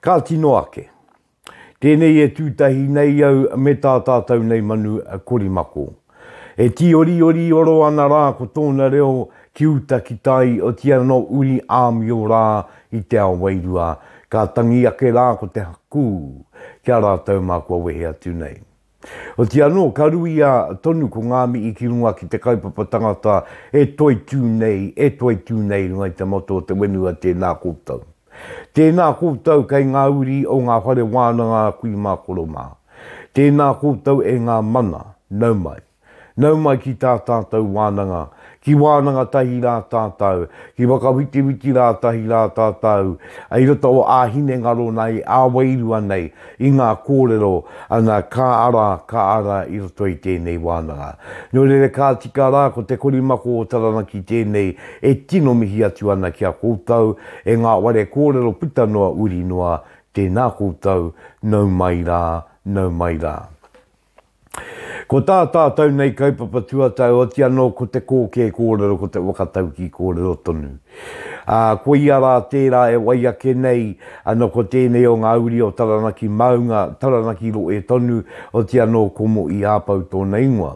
Ka tino ake. Tēnei e tū tahi nei au me tā tātou nei manu korimako. E tīoriori oro ana rā ko tōna reo ki uta ki tai otiia nō uri āmio rā i te ao wairua, ka tangi ake rā ko te hakū ki a rātou mā kua wehe atu nei. Otiia anō, ka ruia tonu ko ngā mihi ki runga ki te kaupapa tangata e toitū nei, e toitū nei i runga i te motto o te whenua Tēnā koutou. Tēnā koutou kei ngā uri o ngā whare wānanga kui mā koro mā. Tēnā koutou e ngā mana, nau mai. Nau mai ki tā tātou wānanga, ki wānanga tahi rā tātou, ki whakawhitiwhiti rā tahi rā tātou, i roto o ā hinengaro nei, ā wairua nei, i ngā kōrero, ana, ka ara, ka ara i roto i tēnei wānanga. Nō reira ka tika rā, ko te korimako o Taranaki tēnei e tino mihi atu ana ki a koutou, e ngā ware kōrero puta noa uri noa, tēnā koutou, nau mai rā, nau mai rā. Ko tā tātou nei kaupapa tuatau oti anō ko te kōkē kōrero, ko te whakataukī kōrero tonu. Ā, koia rā tērā e wai ake nei, ana ko tēnei o ngā uri o Taranaki maunga, Taranaki rohe tonu, oti anō ko Mo'i Āpau tōna ingoa.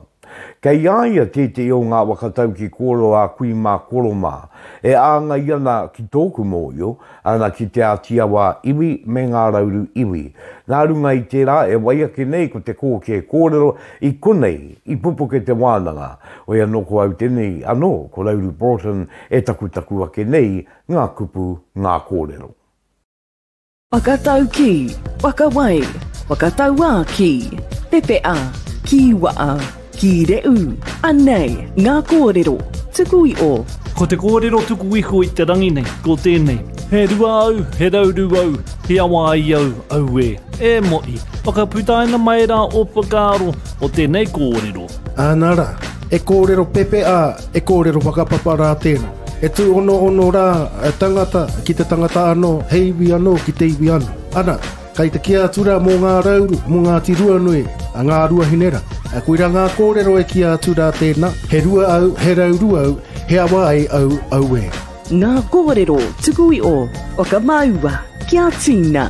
Kei a ia tētehi o ngā whakataukī kōrero a kui mā koro mā, e āngai ana ki tōku mōhio, Ana ki Te Āti Awa iwi me Ngā Rauru iwi. Nā runga i tērā e wai ake nei ko te kōkē kōrero i konei i pupuke te wānanga, hoi anō ko au tenei anō ko Rauru Broughton e takutaku ake nei ngā kupu, ngā kōrero. Whakataukī, whakawai, whakatauā ki, pepea, kīwaa. Ki Re'u, anei ngā kōrero tuku i o. Ko te kōrero tuku iho i te rangi nei, ko tēnei. He rua au, he rauru au, he awa ai au, auē. E Mo'i, whakaputaina mai rā ō whakaaro o tēnei kōrero. Āna rā, e kōrero pepe ā, e kōrero whakapapa rā tēnā. He tūonoono rā tangata ki te tangata anō, he iwi anō ki te iwi anō. Ana. Kai te kī a Tura mō ngā rauru mō Ngāti Ruanui, a Ngā Ruahinera. Koira ngā kōrero e kī a Tura tēnā, he rua au, he rauru au, he awa ai au, auē. Ngā kōrero tuku iho o ka māua ki a Tina.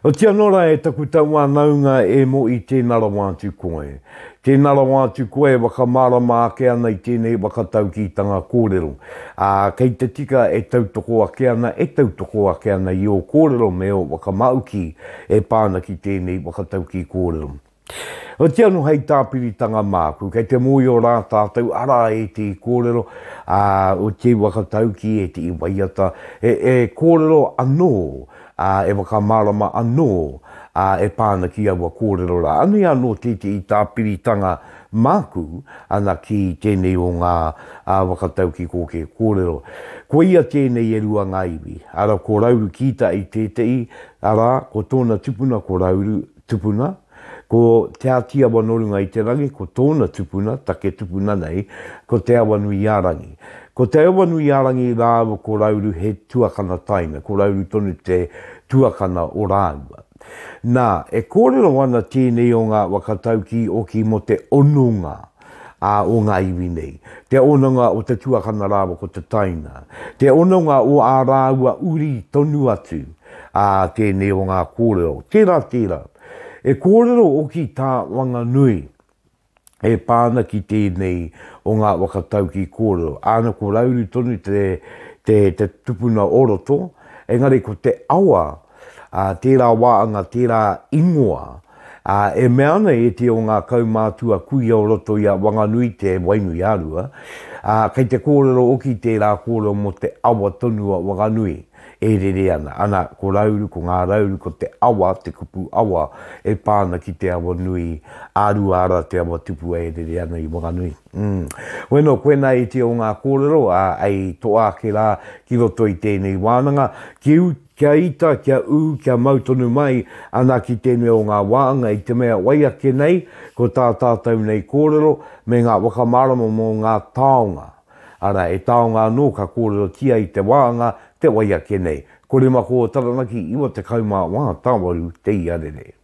Otianō rā e taku tauānaunga e Mo'i tēnā rawa atu koe. Tēnā rawa atu koe e whakamārama ake ana i tēnei whakataukītanga kōrero. Ā, kei te tika e tautoko ake ana, e tautoko ake ana i ō kōrero me ō whakamāuki e pā ana ki tēnei whakataukī kōrero. Otiia anō hei tāpiritanga māku, kei te mōhio rā tātou, arā ētehi kōrero, ā, ētehi whakataukī, ētehi waiata, e, e kōrero anō, ā, e whakamārama anō, ā, e pā ana ki aua kōrero rā. Anei anō tētehi tāpiritanga māku ana ki tēnei o ngā whakataukikōkē kōrero. Koia tēnei e rua ngā iwi, arā, ko Rauru Kītai tētehi, arā, ko tōna tupuna ko Rauru, tupuna, Ko Te Ātiawa nō runga i te rangi, ko tōna tupuna, take tupuna nei, ko Te Awanuiārangi. Ko Te Awanuiārangi rāua ko Rauru he tuakana taina, ko Rauru tonu te tuakana o rāua. Nā, e kōrero ana tēnei o ngā waka taukī oki mō te hononga. ā, o ngā iwi nei, te hononga o te tuakana rāua ko te taina, te hononga o ā rāua uri tonu atu, ā, tēnei o ngā kōrero, tērā, tērā. He kōrero hoki tā Wanganui e pā ana ki tēnei o ngā waka taukī kōrero, āna ko Rauru tonu te, te, te tupuna o roto, engari ko te awa, tērā wāanga, tērā ingoa, e mea ana e te o ngā kaumātua kuia o roto i a Wanganui te Wainuiārua, kei te kōrero oki tērā kōrero mō te awa tonu a Wanganui e rere ana, ana, ko Rauru, ko Ngā Rauru, ko te awa, te kupu awa e pā ana ki te awa nui a Ruaara, te awa tupua e rere ana i Wanganui. Umm. Bueno, koinā e te o ngā kōrero, a, ei toa ake rā ki roto i tēnei wānanga, ki Kia ita, kia ū, kia mau tonu mai ana ki tēnei o ngā wānga i te mea wai ake nei ko tā tātou nei kōrero me ngā whakamārama mō ngā taonga, arā, he taonga anō ka kōrerotia i te wānga te wai ake nei. Koremako o Taranaki 94 te iarere.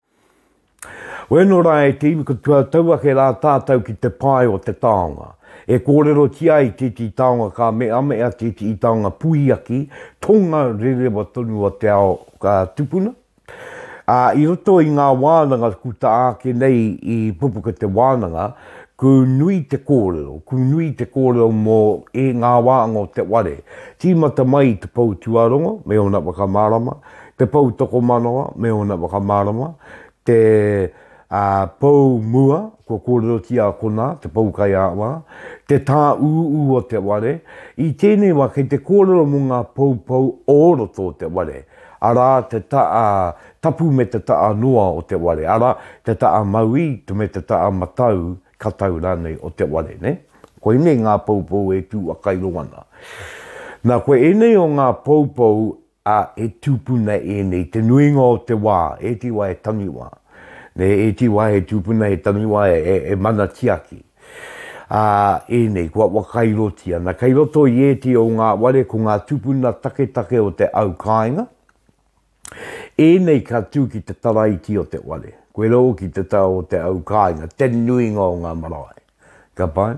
Koe anō rā e te iwi katoa tau ake rā tātou ki te pae o te taonga. E kōrerotia ai tētehi taonga ka meamea tētehi taonga puiaki, tonga rerewa tonu o te ao ka tupuna. Ā, i roto i ngā wānanga kū tā ake nei i pupuka te wānanga, kū nui te kōrero, kū nui te kōrero mō e ngā wānga o te ware. Tīmata mai te pou tuarongo me ōna whakamārama, te pou tokomanawa me ōna whakamārama, te pou mua, kua kōrerotia konā, te pou kaiāwhā, te tāūū o te ware, i tēnei wā kei te kōrero mō ngā poupou o roto o te ware, arā, te taʻa tapu me te taʻa noa o te ware, arā, te taʻa mauī me te taʻa matau, katau rānei o te ware, nē? Koinei ngā poupou e tū whakairo ana. Nā, ko ēnei o ngā poupou ā, e tūpuna ēnei te nuinga o te wā, e te wā e tangi wā, nē, e te wā e tūpuna he tangi wā e, e, e mana tiaki. Ā, ēnei, kua wakairotia, nā, kei roto i ētehi o ngā ware ko ngā tūpuna taketake o te au kāinga, ēnei ka tū ki te taraiti o te ware, koirā hoki te tau o te au kāinga, te nuinga o ngā marae. Ka pai?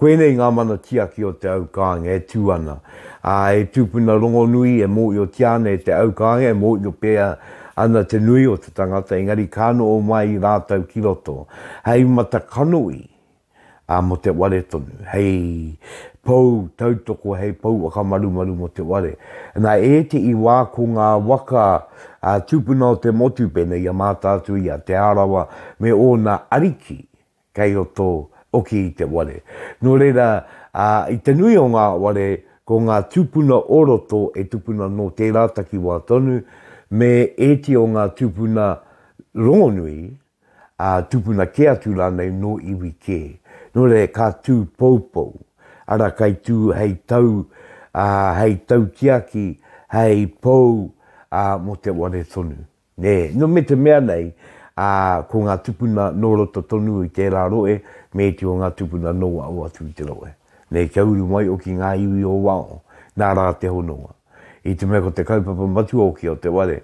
Koinei ngā mana tiaki o te au kāinga e tū ana, ā, he tūpuna rongonui e mōhiotia ana e te au kāinga e mōhio pea ana te nui o te tangata, engari ka noho mai rātou ki roto hei mata kanohi, ā, mō te ware tonu, hei pou tautoko, hei pou whakamarumaru mō te ware. Nā ētehi wā ko ngā waka tūpuna o te motu pēnei i a Mātaatua, i a Te Arawa me ōna ariki, kei roto hoki i te ware. Nō reira, ā, i te nui o ngā ware, ko ngā tūpuna o roto e tupuna nō tērā takiwā tonu, me ēti o ngā tūpuna rongonui, ā, tūpuna kē atu rānei nō iwi kē. Nō reira, ka tū poupou, arā, kei tū hei tau, ā, hei taukiaki, hei pou, ā, mō te ware tonu. Nē, nō me te mea nei, ā, ko ngā tupuna nō roto tonu i tērā rohe, me iti o ngā tupuna nō waho atu i te rohe. Nē, kia uru mai hoki ngā iwi o waho, nā rā te hononga. I te mea ko te kaupapa matua hoki o te ware,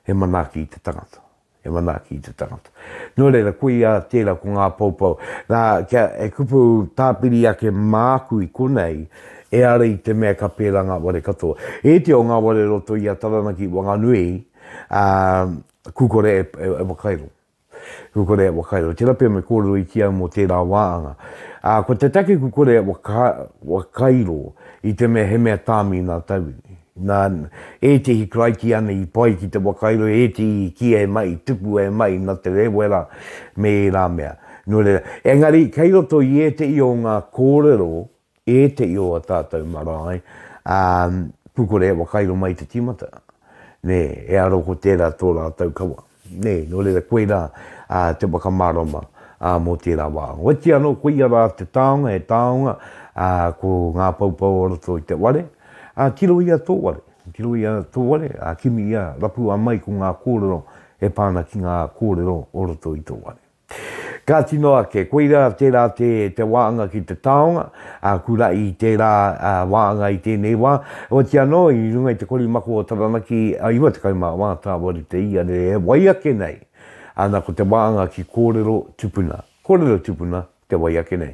he manaaki i te tangata. He manaaki i te tangata. Nō reira, koia tērā ko ngā poupou. Nā, kia e kupu tāpiri ake māku i konei, ehara i te mea ka pērā ngā ware katoa. Iti o ngā ware roto i a Taranaki i Wanganui, Ā, kū kore e, e, e whakairo. Kū kore e whakairo. Tērā pea me kōrero i ki au mō tērā wāanga. Ā, ko te take kū kore e waka, wakairo i te mea he mea tāmi nā tauiwi. Nā, ētehi karaikiana i pai ki te whakairo, ētehi i kīa e mahi, i tukua e mahi nā Te Rēwera me ērā mea. Nō reira, engari, kei roto i ētehi o ngā kōrero ētehi o a tātou marae, ā, pūkore e whakairo mai te tīmata, nē, e aro ko tērā tō rātou kawa. Nē, nō reira koirā ā, te whakamārama ā, mō tērā wā. Oiti anō koia rā te taonga, he taonga ā, ko ngā poupou o roto i te ware, ā, tirohia tō ware, tirohia tō ware, ā, kimi ia, rapua mai ko ngā kōrero e pā ana ki ngā kōrero o roto i tō ware. Ka tino ake, koirā tērā te, te wāanga ki te taonga, ā, kura i tērā ā, wāanga i tēnei wā, oati anō i runga i te korimako o Taranaki ā, 94 tāwari te ia nei e wai ake nei, ana ko te wāanga ki kōrero tupuna, kōrero tupuna te wai ake nei.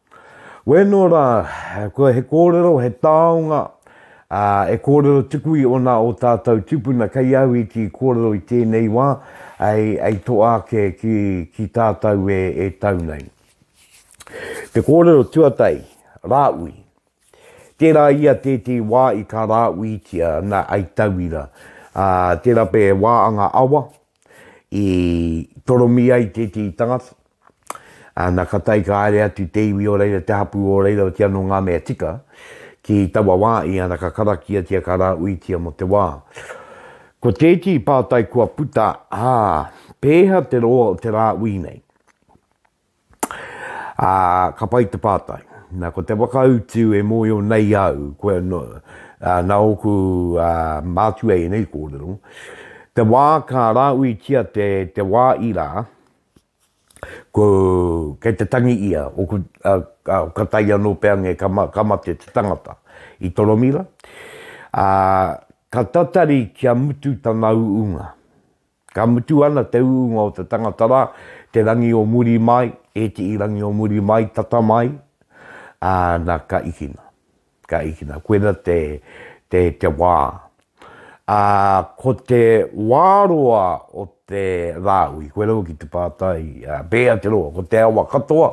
Wēnō rā, kua he kōrero, he taonga, ā, e kōrero tuku i ōna ō tātou tupuna kei au i kī kōrero i tēnei wā, ei, ei toa ake ki, ki tātou e, e tau nei. Te kōrero tuatahi, Rāui. Tērā ia tētehi wā i ka rāuitia, na, ai tauira, ā, te rape e wā anga awa, i toromi ai tētehi tangata, ana ka tae ka haere atu te iwi o reira, te hapū o reira o te anō ngā mea tika, ki taua wā i ana ka karakiatia ka rāuitia mō te wā. Ko tētehi pātai kua puta, ā, pēhea te roa o te rāui nei? Ā, ka pai te pātai. Nā, ko te whakautu e mōhio nei au, koe anō, ā, nā ōku, ā, mātua ēnei kōrero, te wā ka rāuitia te, te wā ira, ko, kei te tangi ia, ōku, ā, ā, ka taea anō pea ngē ka, ka mate te tangata i Toromira, ā, ka tatari kia mutu tana uunga. Ka mutu ana te uunga o te tangata ra, te rangi o muri mai, etii rangi o muri mai, tata mai, aa, na, ka ikina. Ka ikina. Koina te, te, te wa. Aa, ko te wa roa o te Raaui, koe rawa ki te paatai, aa, pee Aoteroa, ko te awa katoa,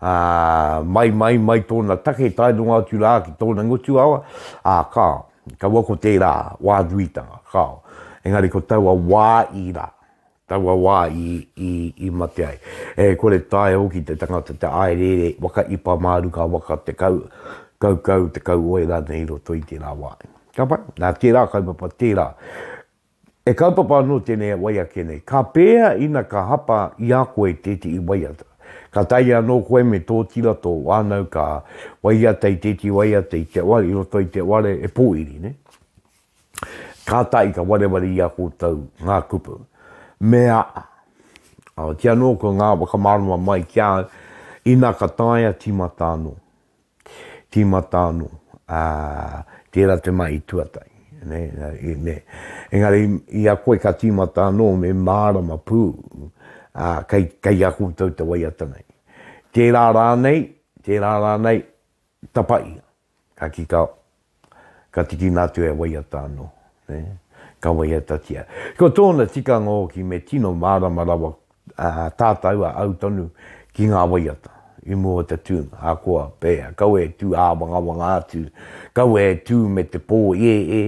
aa, mai, mai, mai tona take tae nonga atu raa ki tona ngutu awa, aa, ka. Kaua ko tērā wā nuitanga, kāo. Engari ko taua wā i rā, taua wā i, i, i mate ai. E kore taea hoki te tangata te āereere, waka ipa mā ruka, waka te kau, kaukau, te kauoe rānei i roto i tērā wā. Ka pai? Nā, tērā kaupapa, tērā E kaupapa anō tēnei e wai ake nei, ka pēhea ina ka hapa i a koe tētehi waiata? Ka taea anō koe me tōtira tō wānau ka waiata i tētehi waiata i te ware, i roto i te ware e pōiri nei. Kātahi ka wareware i a koutou ngā kupu. Mea a. Ahatia anō ko ngā whakamārama mai ki a au, ina ka taea tīmata anō. Tīmata anō, ā, tērā te mahi tuatahi, nē, nē. Engari, i a koe ka tīmata anō me mārama pū, ā, kei, kei a koutou te waiata nei. Tērā rānei, tērā rānei, tapaia. Ka kī, ka. Ka tikina atu e waiata anō, ka waiatatia. Ko tōna tikanga hoki me tino mārama rawa tātau a au tonu ki ngā waiata i mua o te tūnga, ahakoa pēhea, kaua e tū āwangawanga atu, kaua e tū me te pō ēē,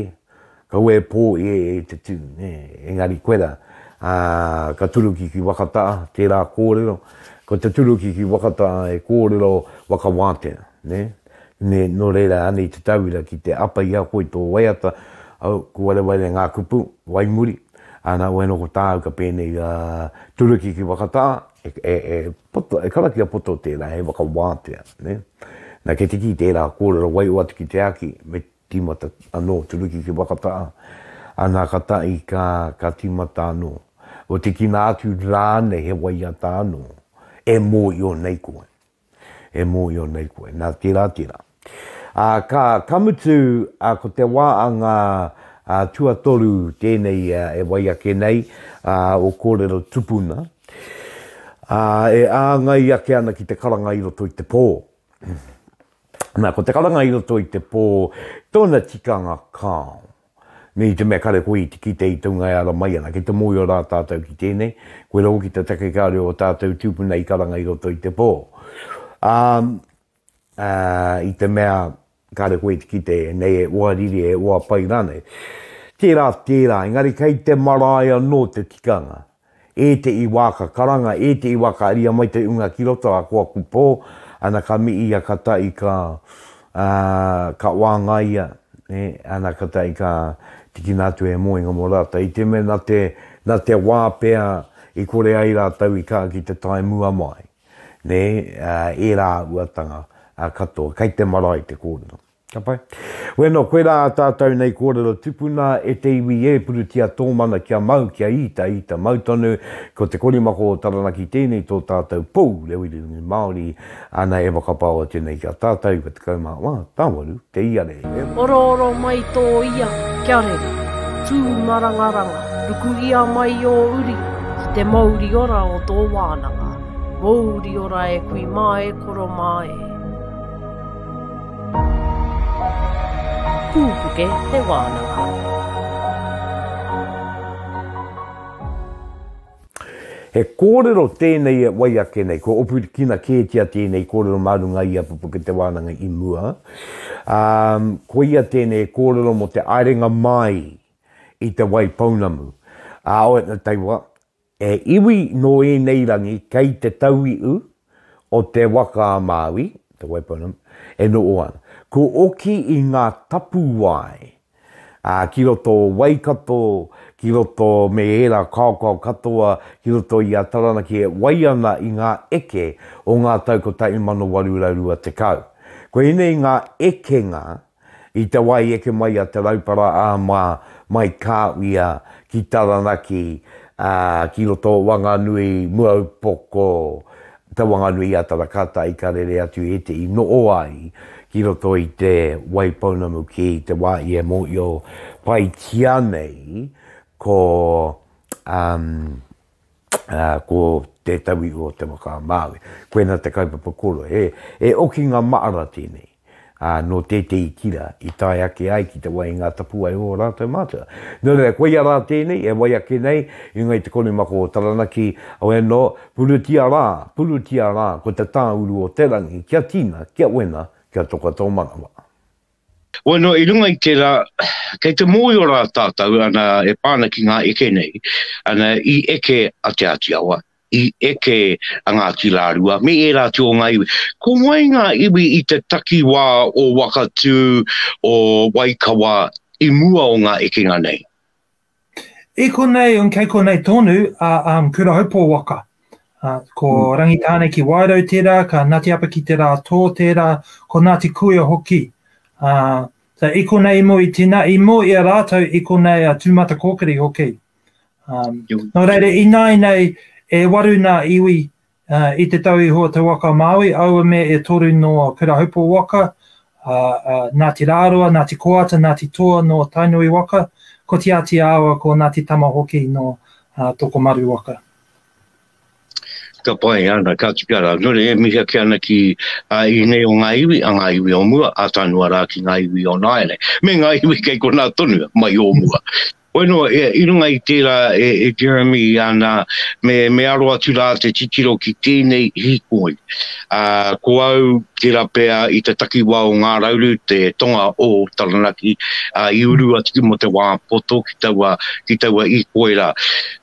Kaua e pō i e te tū, nē, engari koe rā, ā, ka turuki ki Wakata, tērā kōrero, ko te turuki ki Wakata he kōrero waka wātea, nē, nē, nō reira anei te tauira ki te apa i a koe i tō waiata, au, ko Warewaire ngā kupu, wai muri, ā, nā wai anō ko tāu ka pēnei, ā, turuki ki Wakata, e, e, e poto, e karakia poto tērā, he waka wātea, nē. Nā, kei te kī tērā kōrero waiho atu ki te Aki, me Tīmata anō turuki ki Wakata, ana ka tahi ka, ka tīmata anō. Ko te kina atu rānei he waiata anō, e mōhio nei koe. E mōhio nei koe. Nā, tērā, tērā. Ā, ka, ka mutu, ā, ko te wā a ngā, ā, tuatoru tēnei e wai ake nei, ā, o kōrero tupuna, ā, e āngai ake ana ki te karanga i roto i te pō. Na, ko te karanga i roto i te pō, tōna tikanga kāo. Nei i te mea kare koe i te kite i taunga e ara mai ana, ki te mōio rā tātou ki tēnei, koe rau ki te take ka reo o tātou tūpuna i karanga i roto i te pō. Ā, ā, i te mea, Kāre koe i te kite ēnei e oa riri, e oa pai rānei. Tērā, tērā, engari kei te marae anō te tikanga. Ētehi wā ka karanga, ētehi wā ka aria mai te unga ki roto, a koa ku pō, ana ka miia ka tahi ka, ā, ka wāngaia, ē, ana ka tahi ka tikina atu he moenga mō rātou. I te mea nā te, nā te wā pea i kore ai rātou i ka ki te tae mua mai. nē, ērā uatanga katoa, kei te marae te kōrero. Ka pai? Wēnā, koirā tātou nei kōrero tupuna, e te iwi e, purutia tō mana kia mau, kia ita, ita mau tonu, ko te korimako o Taranaki tēnei tō tātou pou reo irirangi Māori, ana e whakapaoa tēnei ki a tātou, 29 Tāwaru. Te iarere. E orooro mai tō ia kia rere. Tū marangaranga, ruku ia mai ō uri ki te mouri ora o tō wānanga. Mouri ora e kui mā e koro mā e. Pūpuke te wānanga. He kōrero tēnei e wai ake nei, kua opukina kētia tēnei kōrero mā runga i a Pupuke Te Wānanga i mua, ā, koia tēnei e kōrero mō te aerenga māi i Te Wai Pounamu, ā, oetna taiwa, he iwi nō ēnei rangi kei te tauiu o te waka a Māui, Te Wai Pounamu, e noho ana. Kua oki i ngā tapuwae. ā, ki roto o Waikato, ki roto me ērā kaokao katoa ki roto i a Taranaki e wai ana i ngā eke o ngā tau 1820. Ko ēnei ngā ekenga i te wā i eke mai a Te Raupara ā mā mai Kāwia ki Taranaki, ā, ki roto o Wanganui, Muaupoko, Te Whanganui-a-Tarakata i ka rere atu e te i noho ai ki roto i te Waipounamu ki te wā i e mōhio paitia nei ko ko Te Tauihu o Te Waka-a-Māui. Koina te kaupapa kōrero, he okinga maara tēnei. ā, nō tētehi tira i tae ake ai ki te wai i ngā tapuwae o ō rātou mātua. Nō reira, koia rā tēnei e wai ake nei i ngā i te konimako o Taranaki, au anō, purutia rā, purutia rā ko te tāuru o te rangi kia tina, kia wena, kia toka tō manawa. Bueno, i runga i tērā, kei te mōhio rā tātou, ana, e pā ana ki ngā eke nei, ana, i eke a Te Āti Awa, i eke a Ngāti Rārua me ērā atu o ngā iwi. Ko wai ngā iwi i te takiwā o Wakatū, o Waikawa i mua o ngā ekenga nei? I konei, kei konei tonu a um, Kurahaupo waka. Uh, ko mm. Rangitāne ki Wairau tērā, ka Ngāti Apa ki Te Rātō tērā, ko Ngāti Kuia hoki. Uh, so, i konei i mua i tina, i mua i a rātou i konei a Tūmata Kōkiri hoki. Um, nō reira, i nāi nei e waru nā iwi uh, i te tau iho o te waka Māui, aua me e toru nō Kurahupo waka, uh, uh, Ngāti Rāroa, Ngāti Koata, Ngāti Toa nō Tainui waka, ko Te Āti Awa, ko Ngāti Tama hoki nō uh, Tokomaru waka. Ka pai ana, ka tikara. Nō re, e mihi ake ana ki a uh, inei o ngā iwi, a ngā iwi o mua, a tānua rā ki ngā iwi o nāere. Me ngā iwi kei konā tonu, mai o mua. Bueno, i runga i tērā e Jeremy ana, me aro atu rā te titiro ki tēnei hīkoi. Ko au tērā pea i te takiwā o Ngā Rauru, te tonga o Taranaki, i uru atu ki mō te wā poto ki taua hīkoi rā.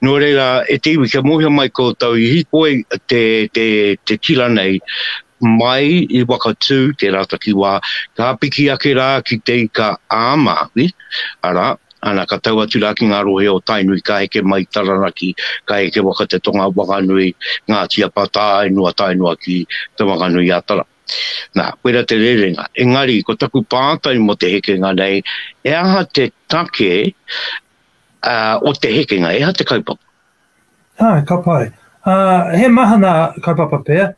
Nō reira, e te iwi, kia mōhio mai koutou, i hīkoi te tira nei, Mai i Whakatū tērā takiwā, ka piki ake rā ki Te Ika-a-Māui, arā, ana ka tau atu rā ki ngā rohe o Tainui, ka heke mai i Taranaki, ka heke waka te Tonga, Wanganui, Ngāti Apa, tae noa, tae noa ki Te Whanganui-a-Tara. Nā, koirā te rerenga. Engari, ko taku pātai mō te hekenga nei, he aha te take o te hekenga, he aha te kaupapa? Ā, ka pai. Ā, he mahana kaupapa pea,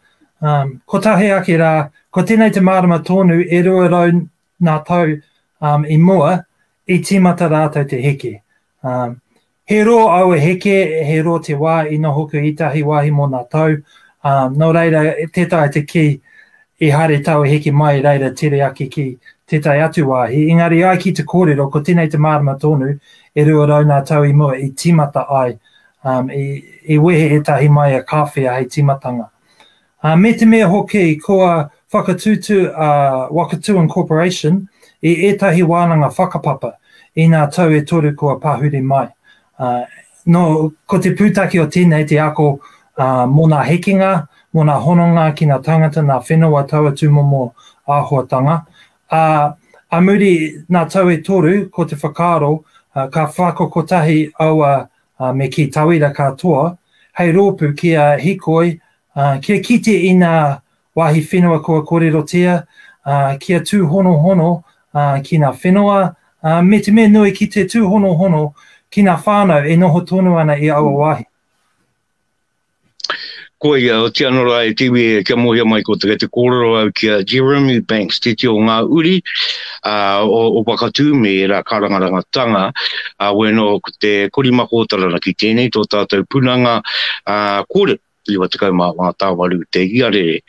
ā, kotahi ake rā, ko tēnei te mārama tōnu e rua rau nā tau, ā, i mua, i tīmata rātou te heke. Ā, he rō aua heke, he rō te wā i noho koe ētahi wāhi mō nā tau, ā, nō reira, tētahi te kī, I haere tau e heke mai reira tere ake ki tētahi atu wāhi, engari ai ki te kōrero ko tenei te mārama tōnu, e rua rau nā tau i mua i tīmata ai, um, i, i wehe ētahi mai a Kāwhia hei tīmatanga. Uh, me te mea hoki kua whakatūtū a Wakatūan Corporation i ētahi wānanga whakapapa i nā tau e toru kua pahuri mai, uh, Nō, ko te pūtake o tēnei te ako ā, mō nā hekenga, mō nā hononga ki nā tāngata, nā whenua taua tūmomo āhuatanga. Ā, a muri nā tau e toru, ko te whakaaro, ā, ka whako kotahi aua, ā, me kī tauira katoa, hei rōpū kia hikoi, ā, kia kite i nā Wāhi whenua kua kōrerotia, ā, kia tūhonohono, ā, ki ngā whenua, ā, me te mea nui ki te tūhonohono ki ngā whānau e noho tonu ana i aua wāhi. Koia, otii ano ra e te iwi e kia mohia mai ko te, te kōrero au ki a Jeremy Banks, titi o ngā uri uh, o, o Wakatū me rā karangaranga tanga, uh, wēno ko te Korimako o Taranaki, tēnei tō tātou punanga uh, kōrero. 95 te iarere.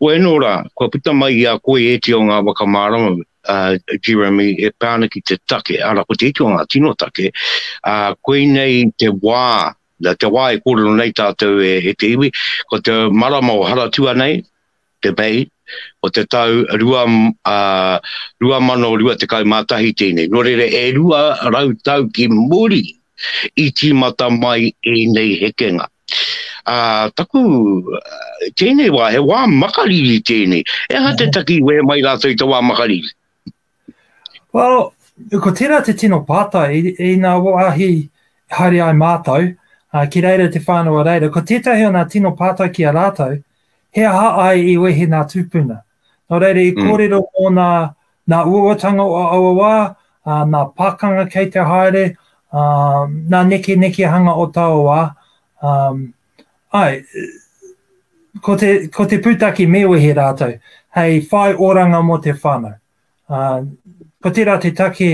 Wēnō rā, kua puta mai i a koe ēti o ngā whakamārama, a Jeremy, e pā ana ki te take, arā, ko te iti o ngā tino take, ā, koinei te wā, te wā e kōrero nei tātou e te iwi, ko te marama o Haratua nei, te May, o te tau 2021 tēnei. Nō reira, e rua rau tau ki muri i tīmata mai ēnei hekenga. Ā, taku, tēnei wā, he wā makariri tēnei. He aha te taki i wehe mai rātou i te wā makariri? Well, ko tērā te tino pātai, i nā wāhi haere ai mātou, uh, ki reira te whānau a reira, ko tētahi o nā tino pātai ki a rātou, he aha ai i wehe nā tūpuna? Nō reira, i mm. kōrero mm. mō nā, nā uawatanga o aua wā, uh, nā pākanga kei te haere, uh, nā neke nekehanga o taua wā, um, Āe, ko te, ko te pūtake me wehe rātou, hei whai oranga mō te whānau. Uh, ko tērā te take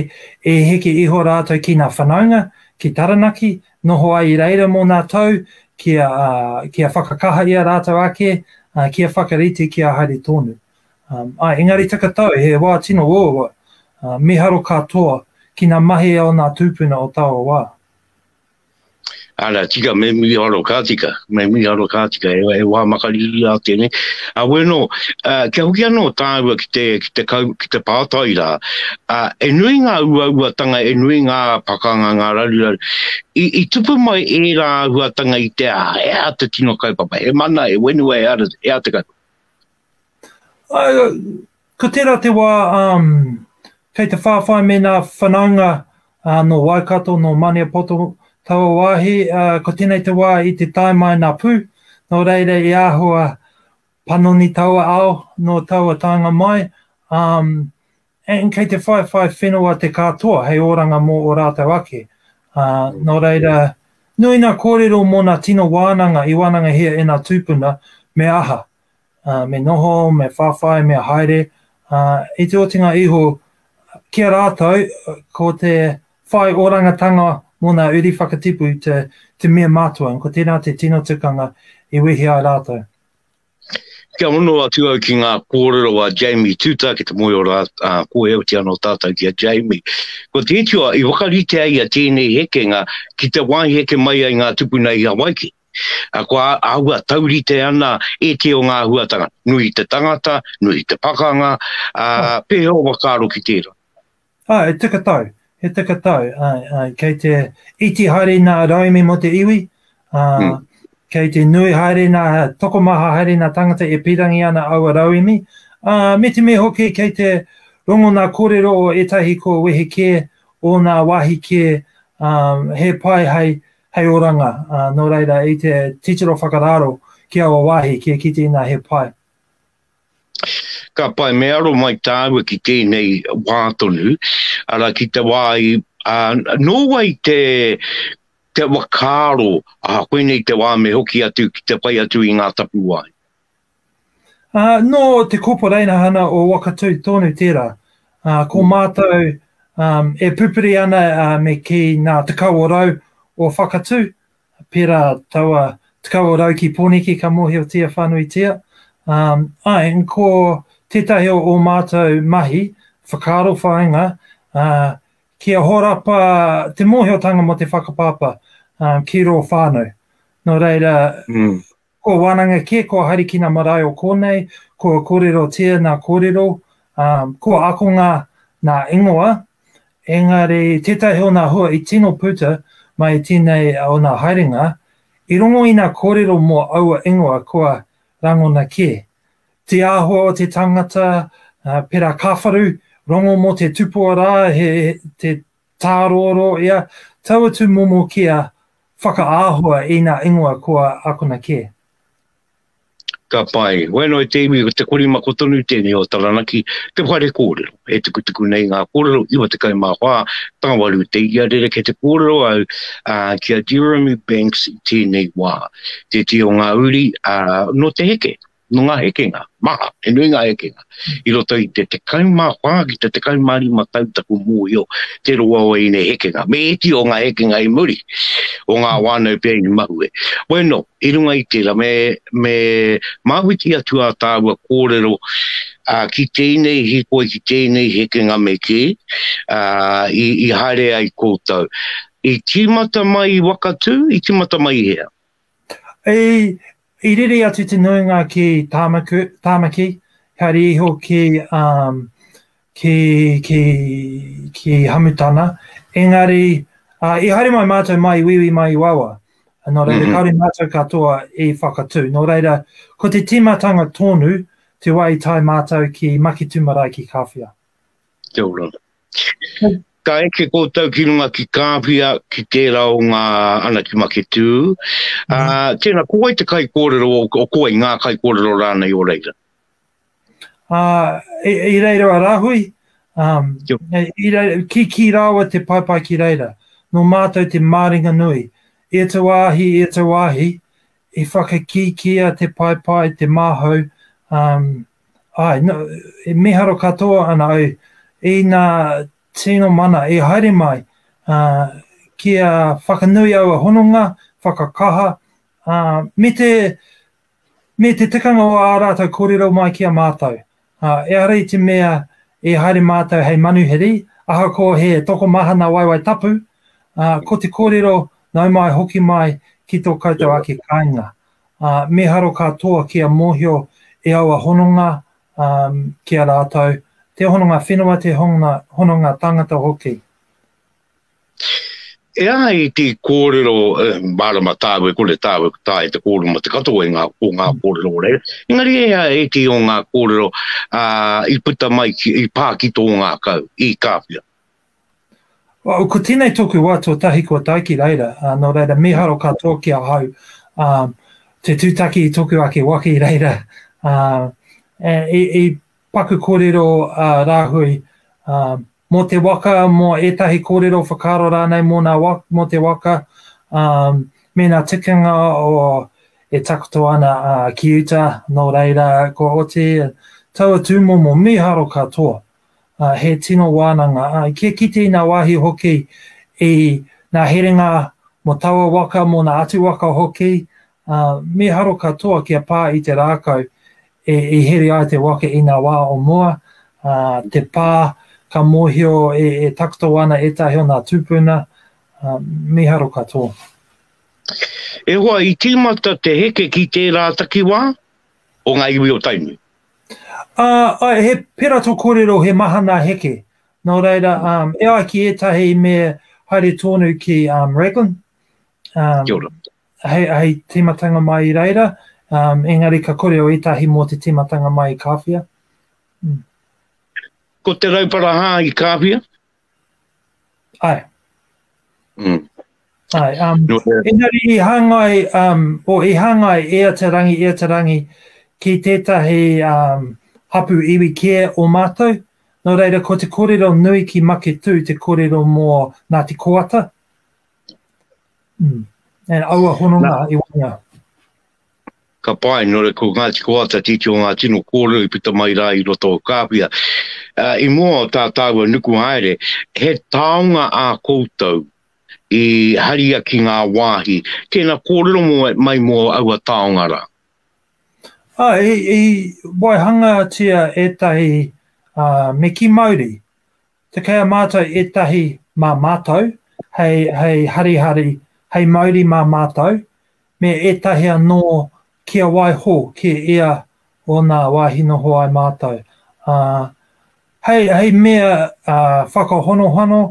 e heke iho rātou ki ngā whanaunga, ki Taranaki, noho ai i reira mō ngā tau, kia, uh, kia whakakaha i a rātou ake, uh, kia whakarite, kia haere tōnu. Um, ai, engari takatau, he wā tino uaua, uh, miharo katoa ki ngā mahi o ngā tūpuna o taua wā. Ara, tika, me miharo ka tika, me miharo ka tika, e, e wā makariri a tēnei. A wēno, a, kia hoki anō tāua ki te, ki te, kau, ki te pātai rā, a, e nui ngā uauatanga, e nui ngā pakanga, ngā raruraru, i, i tupu mai e rā huatanga i te a, e a te tino kaupapa, e mana, e wenua, e ara, e a te kaupapa. Ai, Ko tērā te wā um, kei te whāwhai me nā whanaunga uh, nō Waikato, nō Maniapoto, taua wāhi, uh, ko tēnei te wā i te tae mai nā pū, nō reira i āhua panoni taua ao, nō taua taenga mai, um, and kei te whaiwhai whenua te kātoa hei oranga mō o rātou ake. Uh, nō reira, nui nā kōrero mō nā tino wānanga i wānangahia e nā tūpuna, me aha, uh, me noho, me whawhai, me haere, uh, i te otinga iho ki a rātou, ko te whai orangatanga mō nā uri whakatipu te, te mea mātua, ko tērā te tino tukanga i wehi ai rātou. Kia hono atu au ki ngā kōrero a Jamie Tuta ki te moe o rā, uh, ko e oti anō tātou ki a Jamie. Ko te itua, i wakarite ai a tēnei hekenga ki te wāi heke mai ai ngā tupuna i Hawaiki. Kua āhua taurite ana e te o ngā huatanga, nui te tangata, nui te pakanga, ā, pēhea o whakaaro ki tērā? Ā, he tika tau, he tika tau, āe, āe, kei te iti haere nā rauemi mō te iwi, ā, kei te nui haere nā, tokomaha haere nā tāngata e pīrangi ana aua rauemi, ā, me te mea hoki kei te rongo nā kōrero o ētahi kua wehe kē, ō nā wāhi kē, ā, he pai hei hei oranga, ā, nō reira, i te titiro whakararo ki aua wāhi, kia kite inā he pai. Ka pai, me aro mai tāua ki tēnei wā tonu, arā, ki te wā i, ā, nō wai te, te whakaaro, ā, koinei te wā me hoki atu ki te whai atu i ngā tapuwae. Uh, no te koporeina hana o Wakatū tonu tērā. Uh, ko mm. mātou um, e pupuri ana uh, me ki nā te kawa rau o Whakatū, pērā taua te kawa rau ki Pōneke ka mōhiotia whanuitia. Um, ai, ko tētahi o, o mātou mahi, whakaaro whainga, uh, ki a horapa te mōhiotanga mo te whakapāpā um, ki rō whānau. No reira, mm. Kua wānanga kē, kua harikina marae o kōnei, kua kōrero tēana kōrero, ā, kua akonga nā ingoa, engari tētahi o nā hua i tino puta mai tēnei o nā haerenga, i rongo i nā kōrero mō aua ingoa kua rangona kē. Te āhua o te tangata, pērā Kāwharu, rongo mō te tupua rā he, te, Tāroaroa ia, tau atu momo kia whakaāhua i nā ingoa kua akona kē. Ka pai. Wheno e te iwi ko te korimako tonu tēnei o Taranaki, te whare kōrero. E tukutuku nei ngā kōrero 94, tāwaru te ia rerekē te kōrero au ki a Jeremy Banks i tēnei wā. Tētehi o ngā uri nō te heke, Nō ngā hekenga maha, he nui ngā hekenga, i roto i te 14 ki te 15 tau taku mōhio te roa o ēnei hekenga, me ēti o ngā hekenga i muri, o ngā whānau pea i mahue. Bueno, i runga i tērā, me, me māwhiti atu ā tāua kōrero, ā, ki tēnei hīkoi, ki tēnei hekenga me kī, ā, i, i haere ai koutou. I tīmata mai i Wakatū, i tīmata mai i hea? I, I rere atu te nuinga ki Tāmaku, Tāmaki, haere iho ki, um, ki, ki, ki Hamutana. Engari, uh, i haere mai mātou mai wiwi mai i wawa. Nō reira, mm -hmm. kāore mātou katoa i whakatū. Nō reira, ko te tīmatanga tonu te wā i tae mātou ki Makitu Marae ki Kāwhia. Kia ora. Ka eke koutou ki runga ki Kāwhia, ki tērā o ngā ana ki Maketū. Mm. Uh, tēnā, ko wai te kai kōrero, o, o ko wai ngā kai kōrero rānei o reira? Uh, i, i reira a Rahui, um, i reira, ki, ki rāua te paepae ki reira, no mātou te māringa nui. E te wāhi, e te wāhi, i whakakīkia te paepae, te māhau, um, Āe, no, e miharo katoa ana au i nā tino mana i haere mai, ā, kia whakanui aua hononga, whakakaha, ā, me te, me te tikanga o ā rātou kōrero mai ki a mātou. Ā, ehara i te mea i haere mātou hei manuhiri, ahakoa he tokomaha nā Waewae Tapu, ā, ko te kōrero nau mai hoki mai ki tō koutou ake kāinga. Ā, mīharo katoa kia mōhio e aua hononga, ā, ki a rātou, te hononga whenua, te hononga, hononga tāngata hoki. E ai te kōrero, e, mārama tāu e kore tāu e taea te kōrero mō te katoa i ngā, o ngā kōrero o reira, engari e ai ētehi o ngā kōrero, ā, i puta mai ki, i pā ki tō ngākau, i Kāwhia. Well, ko tēnei tōku wā tuatahi kua tae ki reira, uh, nō reira miharo katoa ki ahau, um, te tūtaki i toku ake waka i reira, uh, e, i, i paku kōrero uh, rāhui, uh, mō te waka, mō ētahi kōrero whakaaro rānei mō, nā waka, mō te waka, um, mēnā tikanga o e takoto ana uh, ki uta, nō reira, ko oti, taua tūmomo miharo katoa. uh, he tino wānanga. Uh, kia kite i ngā wāhi hoki i ngā herenga mo taua waka, mo ngā atu waka hoki, uh, me haro katoa kia pā i te rākau e, e here ai te waka i ngā wā o mua, uh, te pā, ka mōhio e, e takoto ana ētahi o ngā tūpuna, uh, me haro katoa. E hoa, i tīmata te heke ki tērā takiwā o ngā iwi o Tainui. Uh, uh, he pera to korero, he mahana heke. No reira, um, e ai ki etahi me haere tonu ki um, Raglan. Um, Kia ora. Hei, hei timatanga mai i reira, um, engari ka korero etahi mo te timatanga mai i Kawhia. Mm. Ko te raupara hā i Kawhia? Ae. Mm. Ae, um, no, uh, engari i hangai, um, o i hangai e a te rangi, e a te rangi, ki tētahi um, hapu iwi kē o mātou, no reira ko te kōrero nui ki Maketū, te kōrero mō Ngāti Koata, mm. and aua hononga i wanga. Ka pae, nō reira ko Ngāti Kohata tētehi o ngā tino kōrero i puta mai rā i roto o Kāwhia. I mua o tā tāua nuku haere, he taonga ā koutou i haria ki ngā wāhi, tēnā kōrero mai mō aua taonga rā. I waihangatia ētahi meki mauri Te kei a mātou ētahi mā mātou, hei, hei harihari, hei mauri mā mātou, me ētahi anō kia waiho, kia ea ōna wāhi noho ai mātou. Ā, hei, hei mea ā, whakahonohono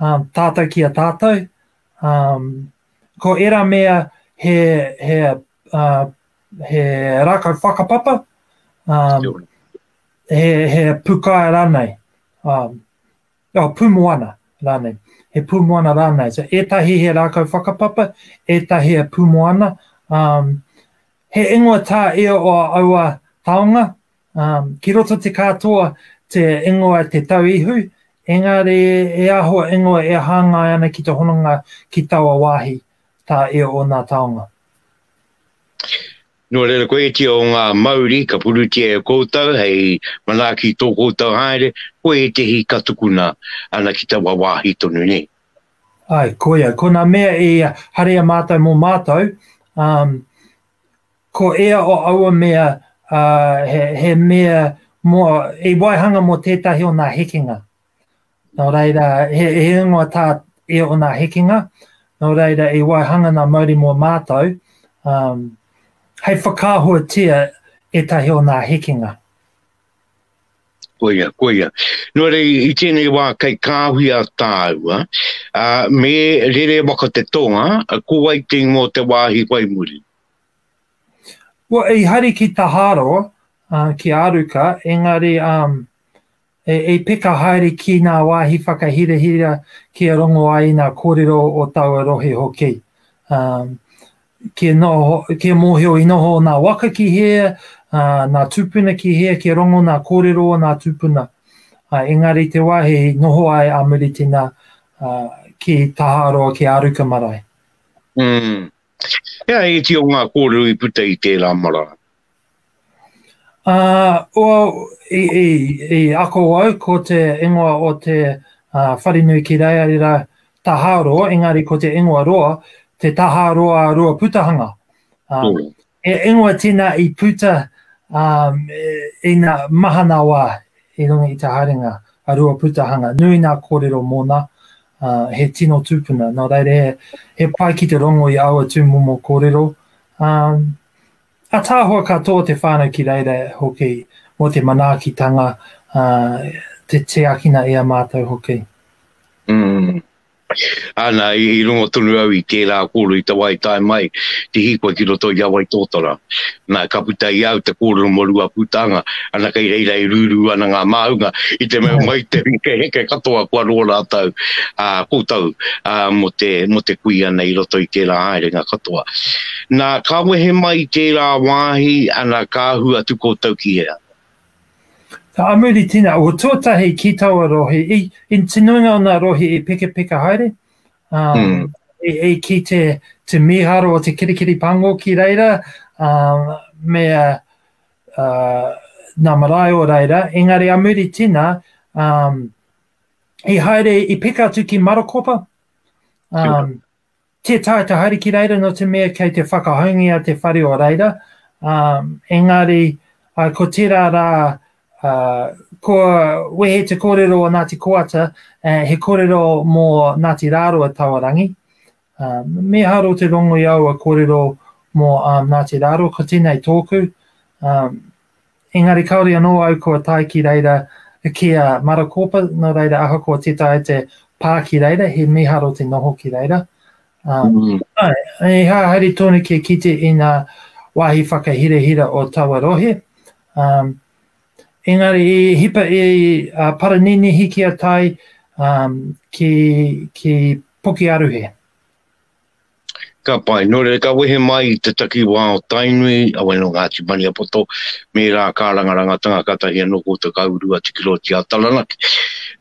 ā, tātou ki a tātou, ā, ko ērā mea he, he, ā, he rākau whakapapa, ā, Kia ora. he, he pukae rānei, um, oh, pūmoana rānei, he pūmoana rānei. So, ētahi he rākau whakapapa, ētahi he pūmoana. Um, he ingoa tā e o aua taonga, um, ki roto te kātoa te ingoa te tau ihu, engari e aho ingoa e hāngai ana ki te hononga ki taua wāhi tā e o nā taonga. Nō reira koetia o ngā mauri ka purutia e koutou hei manaaki tō koutou haere, ko ētehi ka tukuna ana ki taua wāhi tonu nei. Āe, koia, ko nā mea i haria mātou mō mātou, ā, ko ia o aua mea, ā, he, he mea mō, i waihanga mō tētahi o nā hekenga. Nō reira, he, he ingoa tā e o nā hekenga, nō reira i waihanga nā mauri mō mātou, um, hei whakaahuatia ētahi o nā hekenga. Koia, koia. Nō rei, i tēnei wā kei kāhui a tāua, uh, me rere waka te tonga, ko wai te ingoa te wāhi whai muri? Well, i hari ki Taharo, uh, ki Aruka, engari um, E, e peka haere ki ngā wāhi whakahirahira kia rongo ai i ngā kōrero o taua rohe hoki. Um, kia, noho, kia mōhio i noho nā waka ki hē, uh, nā tūpuna ki hē, kia rongo nā kōrero o nā tūpuna. Uh, engari te wāhi noho ai a Muritina uh, ki Taharoa, ki Aruka marae. Mm. Hea e ti o ngā kōrero i puta i tērā marae? Uh, well, i, i, i ako au ko te ingoa o te uh, wharinui ki reira, reira taharoa, engari ko te ingoa roa, te taharoa roa putahanga. Um, mm. E ingoa tina i puta um, e, i nga mahana wā i runga i te haringa a rua putahanga. Nui nā kōrero mōna, uh, he tino tūpuna. Nō reira, he, he pai ki te rongo i aua tūmomo kōrero. Um, Ataahua ka tō te whānau ki reira hoki mō te manaakitanga, ā, te tiakina i a mātou hoki. Mm. Ana, i, i rongo tonu au i tērā kōrero i te wā i tae mai te hīkoi ki roto i a Waitōtara. Nā, ka puta i au te kōrero mō Ruapūtanga, ana kei reira e rūrū ana ngā māunga i te mea mai te hekeheke katoa kua rō rātou, ā, koutou, ā, mō te, mō te kui ana i roto i tērā haerenga katoa. Na, ka wehe mai i tērā wāhi, ana, ka ahu atu koutou ki hea? Ka amuri tina, o tuatahi ki taua rohe, i, i te nuinga o nga rohe i pekapeka haere, ā, i, i ki te, te miharo o te kirikiri pango ki reira, ā, me, ā, nga marae o reira, engari amuri tina, ā, i haere, i peka atu ki Marokopa, ā, Tē taea te haere ki reira nō te mea kei te whakahoungia te whare o reira, ā, engari, ā, ko tērā rā, ā, kua wehe te kōrero o Ngāti Koata, ā, he kōrero mō Ngāti Rāroa Tawarangi. Ā, me haro te rongo i aua kōrero mō, ā, Ngāti Rāroa, ko tēnei tōku, ā, Engari kāore anō au kua tae ki reira ki a Marakōpa, nō reira ahakoa tē taea te pā ki reira, he mīharo te noho ki reira. Ā, ā, he aha haere tonu kia kite i ngā wāhi whakahirahira o taua rohe. Ā, engari i hipa i a Paraninihi kia tae, ā, ki, ki Pukearuhe. Ka pai. Nō reira, ka wehe mai i te takiwā o Tainui, a Wai nō Ngāti Maniapoto, me rā kā rangarangatanga katahi anō ko Te Kauru a Tikiroiti a Taranaki.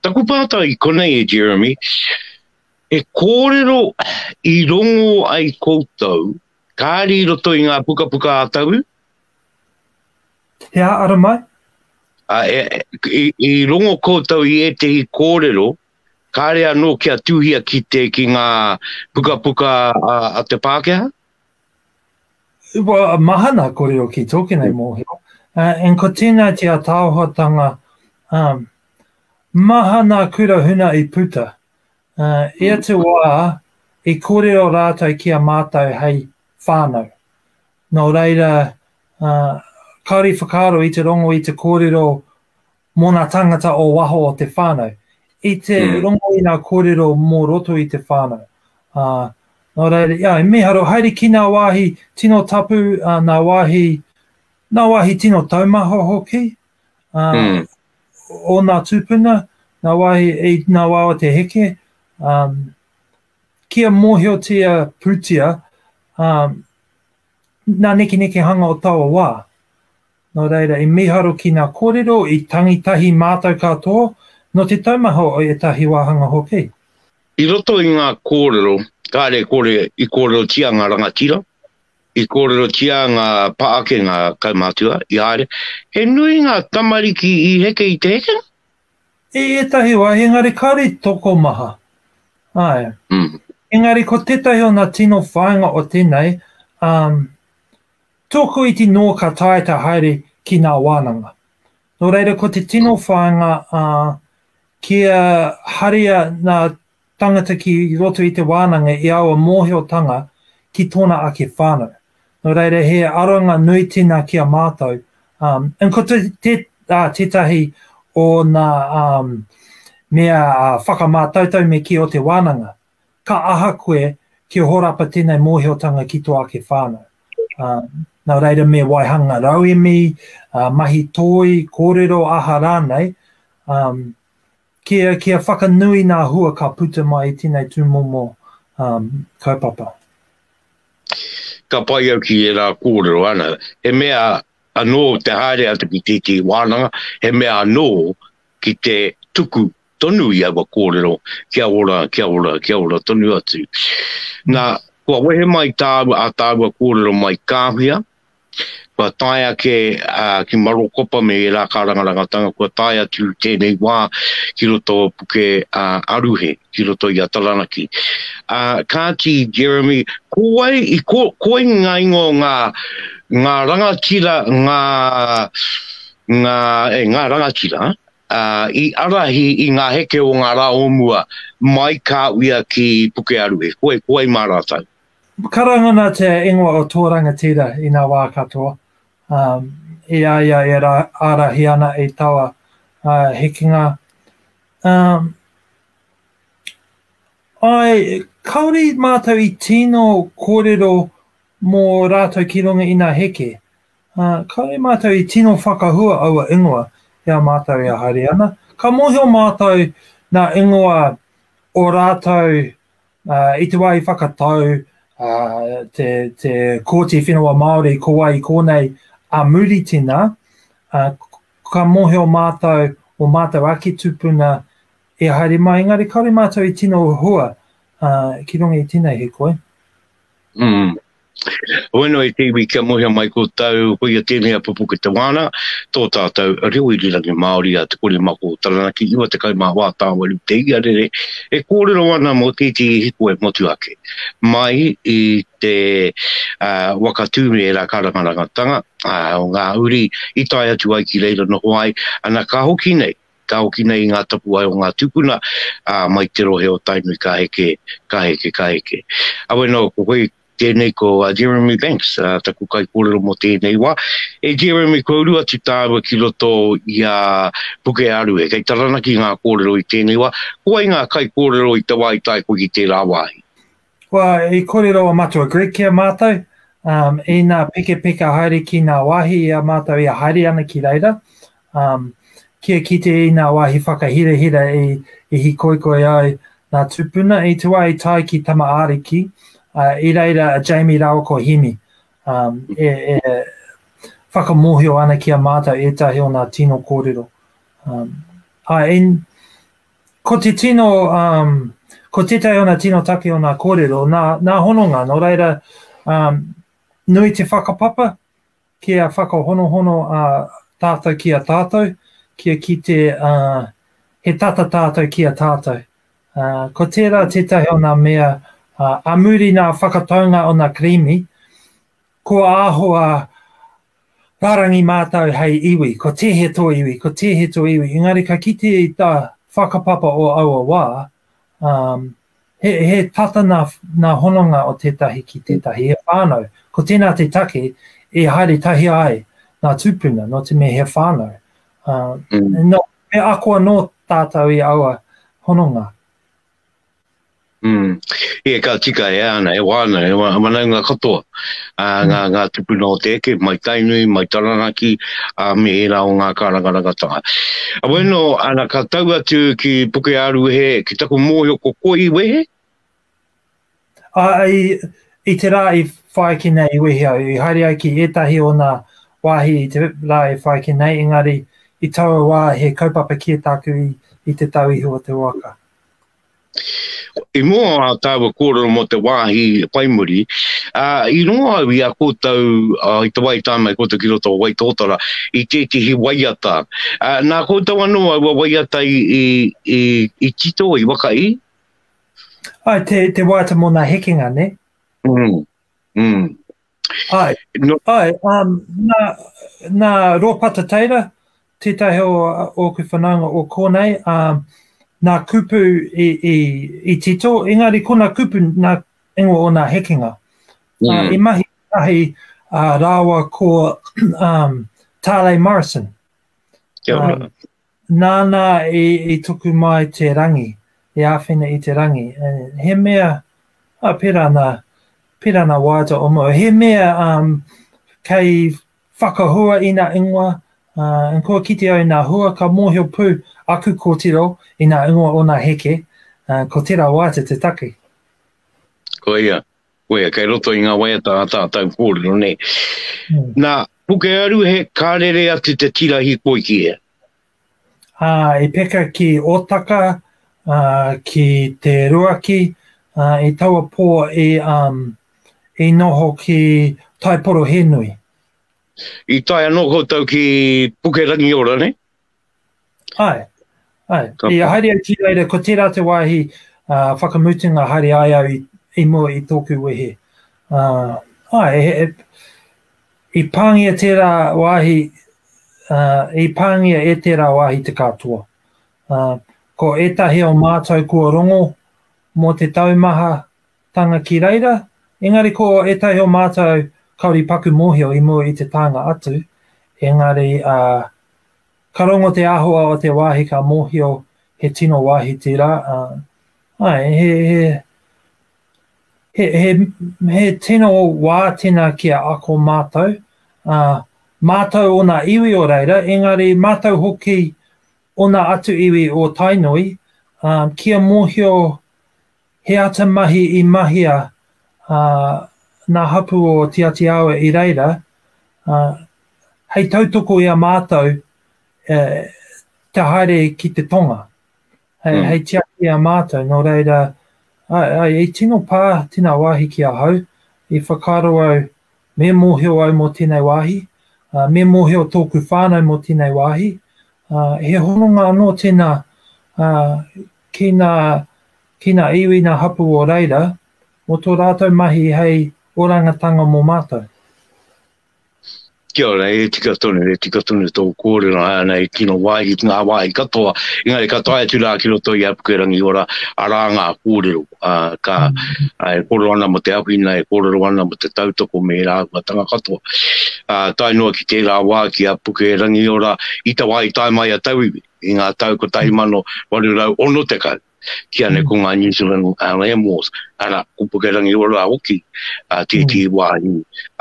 Taku pātai i konei e Jeremy, e kōrero i rongō ai koutou, kāri i roto i ngā pukapuka a Tauru? He ā ara mai? Ā, e, i, i rongō koutou i ētehi kōrero Kāre anō kia tuhia ki te ki ngā pukapuka a te Pākehā? Well, mahana kore o ki tō kenei mōhio. Uh, and ko tēnā te ataohotanga um, mahana kura huna i puta. Uh, e hmm. te wā, i kōrero rātou ki a mātou hei whānau. Nō reira, uh, kaori whakaaro i te rongo i te kōrero Mō ngā tāngata o waho o te whānau, i te rongo i ngā kōrero mō roto i te whānau. Ā, nō reira, ā, i mīharo, haere ki ngā wāhi tino tapu, ā, ngā wāhi, ngā wāhi tino taumaha hoki, ā, o ngā tūpuna, ngā wāhi, i ngā wā o te heke, ā, kia mōhiotia pūtia, ā, ngā nekenekehanga o taua wā. Nō reira, i mīharo ki ngā kōrero i tangi tahi mātou katoa, nō te taumaha o ētahi wāhanga hoki. I roto i ngā kōrero, kāre kore i kōrerotia ngā rangatira, i kōrerotia ngā pā ake, ngā kaumātua, i haere. He nui ngā tamariki i heke i te hekenga? I ētahi wā, engari kāre i tokomaha. Āe. Engari ko tētahi o ngā tino whāinga o tēnei, ā, Tōku iti nō ka taea te haere ki nā wānanga. Nō reira ko te tino whāinga a, kia haria nā tangata ki roto i te wānanga i aua mōhiotanga ki tōna ake whānau. Nō reira he aronga nui tina ki a mātou, um, and ko te, te, uh, tētahi o nā um, mea uh, whakamātautau me kī o te wānanga. Ka aha koe kia horapa tenei mohiotanga ki to ake whanau? A, na reira me waihanga rauemi, a, mahi toi, korero aha ranei, um, kia, kia whakanui na hua ka puta mai i tenei tumomo um, kaupapa. Ka pai au ki era korero ana, he mea ano te haere atu ki titi wananga, he mea ano ki te tuku tonu i aua kōrero, kia ora, kia ora, kia ora tonu atu. Nā, kua wehe mai tāua, ā tāua kōrero mai Kāwhia, kua tae ake ki Marokopa me ērā kārangarangatanga, kua tae atu tēnei wā ki roto o Puke Aruhe, ki roto i a Taranaki. Ā, kāti, Jeremy, ko wai, ko, koe ngā ingoa o ngā, ngā rangatira, ngā, ngā, e, ngā rangatira, I ārahi i ngā heke o ngā rā o mua, mai kā uia ki Pukearuhe, koe, koe mā rātou. Karanga nā te ingoa o tō rangatira i nā wā katoa, ā, i a ia e ārahi ana i taua hekenga, ā, āe, kāore mātou i tino kōrero mō rātou ki runga i nā heke. Ā, kāore mātou i tino whakahua aua ingoa ki a mātou e haere ana. Ka mōhio mātou nā ingoa o rātou ā, i te wā i whakatau ā, te, te Kōti Whenua Māori ko wai i kōnei a Muritina, ā, ka mōhio mātou o mātou ake tupuna e haere mai, engari kāore mātou i tino hua ā, ki runga i tēnei hikoi. Mm. Hoeno e te iwi kia mohea mai ko tau, ko ia tēnei a pupu ki te wāna, tō tātou reo irirangi Māori a te kore mako o Taranaki, 90 mā wā tāwaru te ia rere, e kōrero ana mō tēti i hiko e motu ake. Mai i te uh, wakatū me era karangarangatanga uh, o ngā uri i tae atu ai ki reira noho ai, ana ka hoki nei, ka hoki nei i ngā tapuwae o ngā tūpuna mai te rohe o Tainui ka heke, ka heke, ka heke. Awe no, ko koe tēnei ko a Jeremy Banks, taku kaikōrero mō tēnei wā. E Jeremy, kua uru atu tāua ki roto i a Pukearu e, kei Taranaki ngā kōrero i tēnei wā, ko wai ngā kaikōrero i te wā i tae koe ki tērā wāhi? Kua i kōrero a Matua Greg ki a mātou, um, i nā pekepeka haere ki nā wāhi i a mātou i a haere ana ki reira, um, kia kite i nā wāhi whakahirahira i, i hikoikoi ai nā tūpuna, i tuā i tai ki Tama Ariki, uh, i reira a Jamie rāua ko Hemi, um, e, e whakamohio ana ki a mātou ētahi o nā tino kōrero. Um, a, in, Ko te tino, um, ko tētahi ona tino take o nā kōrero, nā, nā hononga, nō reira, um, nui te whakapapa ki a whakahonohono a tātou ki a tātou, ki a ki te, uh, he tata tātou ki a tātou. Uh, ko tērā tētahi o nā mea, uh, a muri nā whakataunga o nā karimi, Kua āhua rārangi mātou hei iwi, ko tēhea tō iwi, ko tēhea tō iwi, engari ka kite i tā whakapapa o aua wā, um, he, he tata nā, nā hononga o tētahi ki tētahi, he whānau. Ko tēnā te take e haere tahi ai ngā tūpuna, nō te mea he whānau. Uh, mm. no, me ako anō tātou i aua hononga. Mm. Yeah, ka tika e ana, e wāna, e wā, wanaunga katoa. Uh, mm. ngā, ngā tupuna o te eke, mai Tainui, mai Taranaki, uh, me e rā o ngā kārangarangatanga. A wēno, mm. ana ka tau atu ki Puke Aruhe, ki taku mōhio ko koi wehe? Ā, i, i te rā i whai ki nei i wehi au, i haere ai ki ētahi o nā wāhi i te rā i whai ki nei, engari i taua wā he kaupapa kē tāku i, i te tau iho o te waka. I mua o ā tāua kōrero mō te wāhi whai muri, ā, i rongo au i a koutou, ā, i te wā i tāna i koutou ki roto o Waitōtara, i tētehi waiata. Ā, nā koutou anō aua waiata i, i, i, i tito, i waka i? Ai, te, te waiata mō nā hekenga, ne? Mm. Mm. Ai, no. ai um, nā, nā Rōpata Teira, tētahi o ōku whanaunga o kōnei, um, nā kupu i, i, i tito, engari ko nā kupu nā ingoa o nā hekenga. Mm. Uh, I mahi ahi uh, rāua ko um, Tālei Morrison. Kia ora. Um, Nāna i tuku mai te rangi, i āwhina i te rangi. He mea, oh, pērā nā, pērā nā waiata o mua, he mea um, kei whakahua i nā ingoa, uh, and kua kite au i nā hua, ka mōhio pū aku kōtiro i nā ingoa o nā heke, uh, ko tērā waiata te take. Koia, Koia, kei roto i ngā waiata a tātau kōrero nei. Nā, Pukearu he ka rere atu te tira hikoi ki hea? Ā, i peka ki Ōtaka, ā, ki Te Ruaki, ā, i taua pō i, um, i noho ki Taiporohenui. I tae anō koutou ki Pukerangiora, nei? Ae, ae, ia haere au ki reira, ko tera te wahi uh, whakamutunga haere ai au i, i mua i toku wehe. Uh, ae, he, he, i pāngia tera wahi, uh, i pāngia e tera wahi te katoa. Uh, ko etahi o mātou kua rongo mō te taumaha Tanga ki reira, engari ko ētahi o mātou kāore i paku mōhio i mua i te taenga atu, engari, ā, ka rongo te āhua o te wāhi ka mōhio he tino wāhi tērā, ā, āe, he, he, he, he, he tino wā tēnā ki a ako mātou, ā, mātou ōna iwi o reira, engari mātou hoki ōna atu iwi o Tainui, ā, kia mōhio He ata mahi i mahia a ngā hapū o Tiati Awa i reira, ā, hei tautoko i a mātou e, kia haere ki te tonga, hei, mm. hei tiaki i a mātou, nō reira, ai, ai, i tino pā tēnā wāhi ki ahau, i whakaaro au, me mōhio au mō tēnei wāhi, uh, me mōhio tōku whānau mō tēnei wāhi, uh, he hononga anō tēnā uh, ki ngā, ki ngā iwi ngā hapū o reira, mō tō rātou mahi hei orangatanga mō mātou. Kia ora, e tika tonu, e tika tonu tō kōrero, hai ana he tino wāhi ki ngā wāhi katoa, engari ka tae atu rā ki roto i Apukerangi ora, arā ngā kōrero, ā, ka, e kōrero ana mō te awhina, e kōrero ana mō te tautoko me ērā āhuatanga katoa. Ā, tae noa ki tērā wā ki Apukerangi ora, i te wā i tae mai a tauiwi, i ngā tau 1860, ki ane ko ngā New Zealand Land Wars, ara, ko Pukerangi Ora rā hoki, a tētī wāhi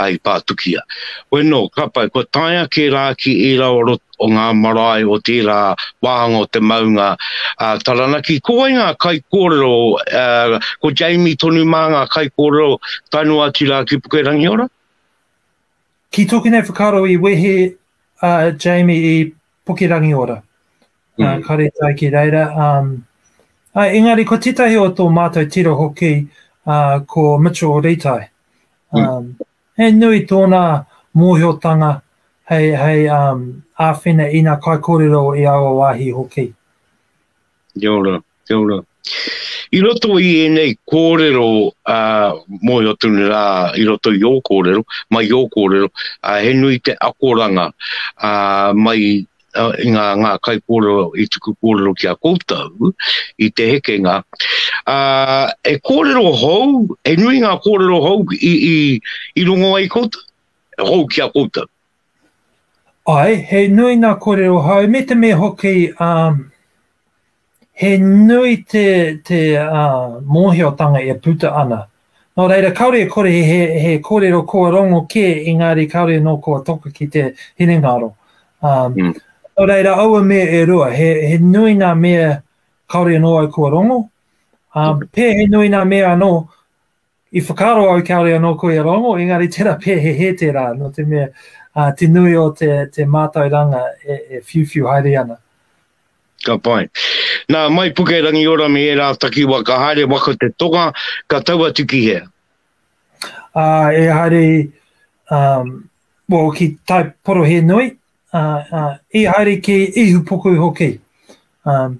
i pātukia. Koe nō, ka pai, kua taea kē rā ki ērā o rot, o ngā marae o tērā wāhanga o te maunga a Taranaki, ko wai ngā kaikōrero, ko Jamie tonu mā ngā kaikōrero tae noa atu rā ki Pukerangi Ora? Ki tōku nei whakaaro i wehe a uh, Jamie i Pukerangiora, mm. uh, kare tai ki reira. Um, uh, engari, ko tētahi o tō mātou tira hoki, uh, ko Mitchell Ritai. Mm. Um, mm. He nui tōna mōhiotanga hei, hei um, āwhina ina kaikorero i aua wāhi hoki. Kia ora, kia ora. I roto i ēnei kōrero a Mohi o Tune rā, i roto i ō kōrero, mai i ō kōrero, he nui te akoranga mai i ngā ngā kaikōrero i tuku kōrero ki a koutou i te hekenga. He kōrero hou, he nui ngā kōrero hou i, i, i rongo ai koutou, hou ki a koutou. Ae, he nui nga korero hou me te me hoki um, he nui te, te uh, mōhiotanga e puta ana. Nō reira, kāore e kore he, he kōrero kua rongo kē, engāri kāore nō kua toka ki te hinengaro. Um, mm. Nō reira, aua mea e rua, he, he nui ngā mea kāore nō au kua rongo, um, mm. pē he nui ngā mea anō I whakaaro au kāore anō ko ia Rongo, engari tērā pea he hē tērā, nō te mea, ā, te nui o te, te mātauranga e, e whiuwhiu haere ana. Ka pai. Nā, mai Pukerangiora me ērā takiwa ka haere waka te tonga, ka tau atu ki hea? Ā, e haere, um, well, ki Tai Porohēnui, ā, ā, i haere ki Ihupuku hoki. Um,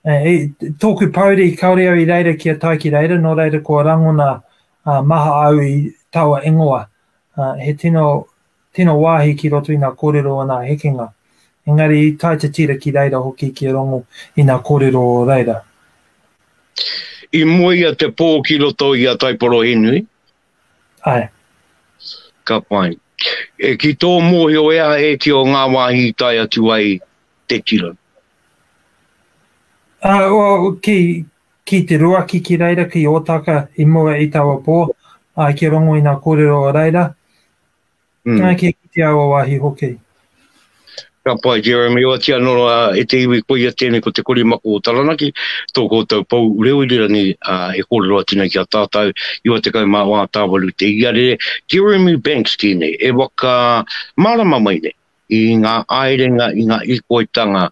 Eh, i tōku pouri, kāore au i reira ki a tai ki reira, nō reira kua rangona uh, maha au i taua ingoa. Uh, he tino, tino wāhi ki roto i nā kōrero o nā hekenga. Engari i tai te tira ki reira hoki ki rongo i nā kōrero o reira. I moe ia te pō ki roto i a Taiporohinui, Ae. Ka pai. E ki tō mōhio e aha ēti o ngā wāhi i tae atu ai te tira? Ah, well, ki, ki Te Ruaki ki reira, ki Ōtaka i mua i taua pō, ah, ki Rongo i ngā kōrero o reira. Mm. Nā kia ki te awa wāhi hoki. Ka pai, Jeremy, oati anō uh, e te iwi koia tēnei ko te korimako o Taranaki, tō koutou pou reo irirangi uh, e kōrero atu nei ki a tātou, iwa te kau mā wā tāwaru te iare, Jeremy Banks tēnei, e waka marama mai nei, i ngā aerenga, i ngā ikoitanga,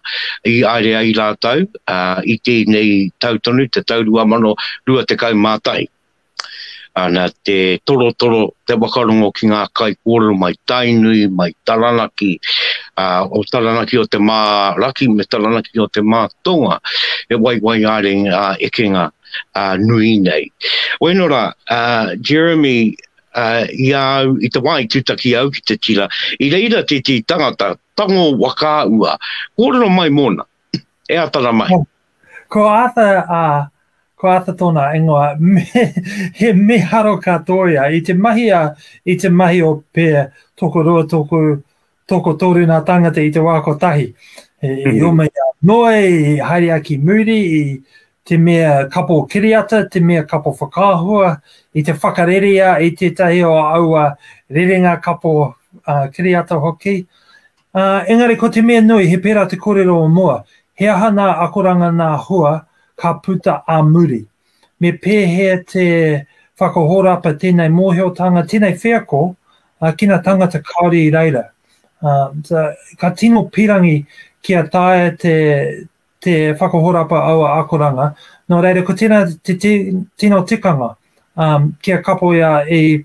i aere ai rātou, uh, i tēnei tau tonu, te tau rua mano, rua te kau mā tahi. Ana te torotoro, te whakarongo ki ngā kaikōrero mai Tainui, mai Taranaki, o Taranaki o te Mā-raki me Taranaki o te Mā-tonga, he waiwai ā-ringa, ā-ekenga nui nei. Wēnō rā, Jeremy, i a au, i te wā i tūtaki au ki te tira, i reira tētehi tangata, tango waka ua, kōrero mai mōna. E ata ra mai. Ko Arthur, ā, ko Arthur tōna ingoa, me, he miharo ka tōia. I te mahi a, i te mahi o pē, toko rua, toko, toko toru nā tāngata i te wā kotahi. E, mm -hmm. o mei a noe, i haere a ki muri, i te mea kapo kiriata, te mea kapo whakahua, i te whakareria i tētahi o aua rerenga kapo uh, kiriata hoki. Ā, engari ko te mea nui, he pērā te kōrero o mua, he aha nā akoranga nā hua ka puta ā muri? Me pēhea te whakahōrapa tēnei mōhiotanga, tēnei wheako, ā, ki ngā tāngata Kāori i reira? Ā, ā, ka tino pīrangi kia taea te, te whakahōrapa aua akoranga, nō reira ko tēnā te, te tino tikanga, ā, kia kapoia i,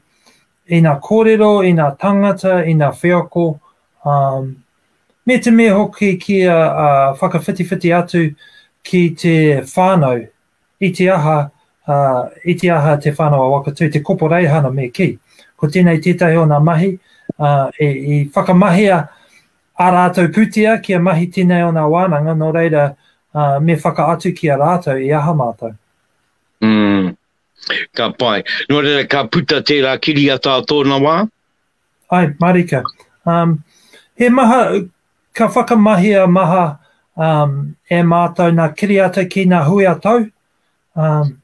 ina kōrero, ina tāngata, ina wheako, ā, me te mea hoki kia ā, whakawhitiwhiti atu ki te whānau, i te aha, ā, i te aha Te Whānau-a-Wakatū, te koporeihana me kī. Ko tēnei tētahi o ngā mahi ā, i, i whakamahia ā rātou pūtea kia mahi tēnei o ngā wānanga, nō reira, ā, me whakaatu ki a rātou i aha mātou. Mm, Ka pai. Nō reira, ka puta tērā kiriata a tōna wā? Hai, marika. Um, he maha, ka whakamahia maha um, e mātou nā kiriata ki nā hui a tau. Um,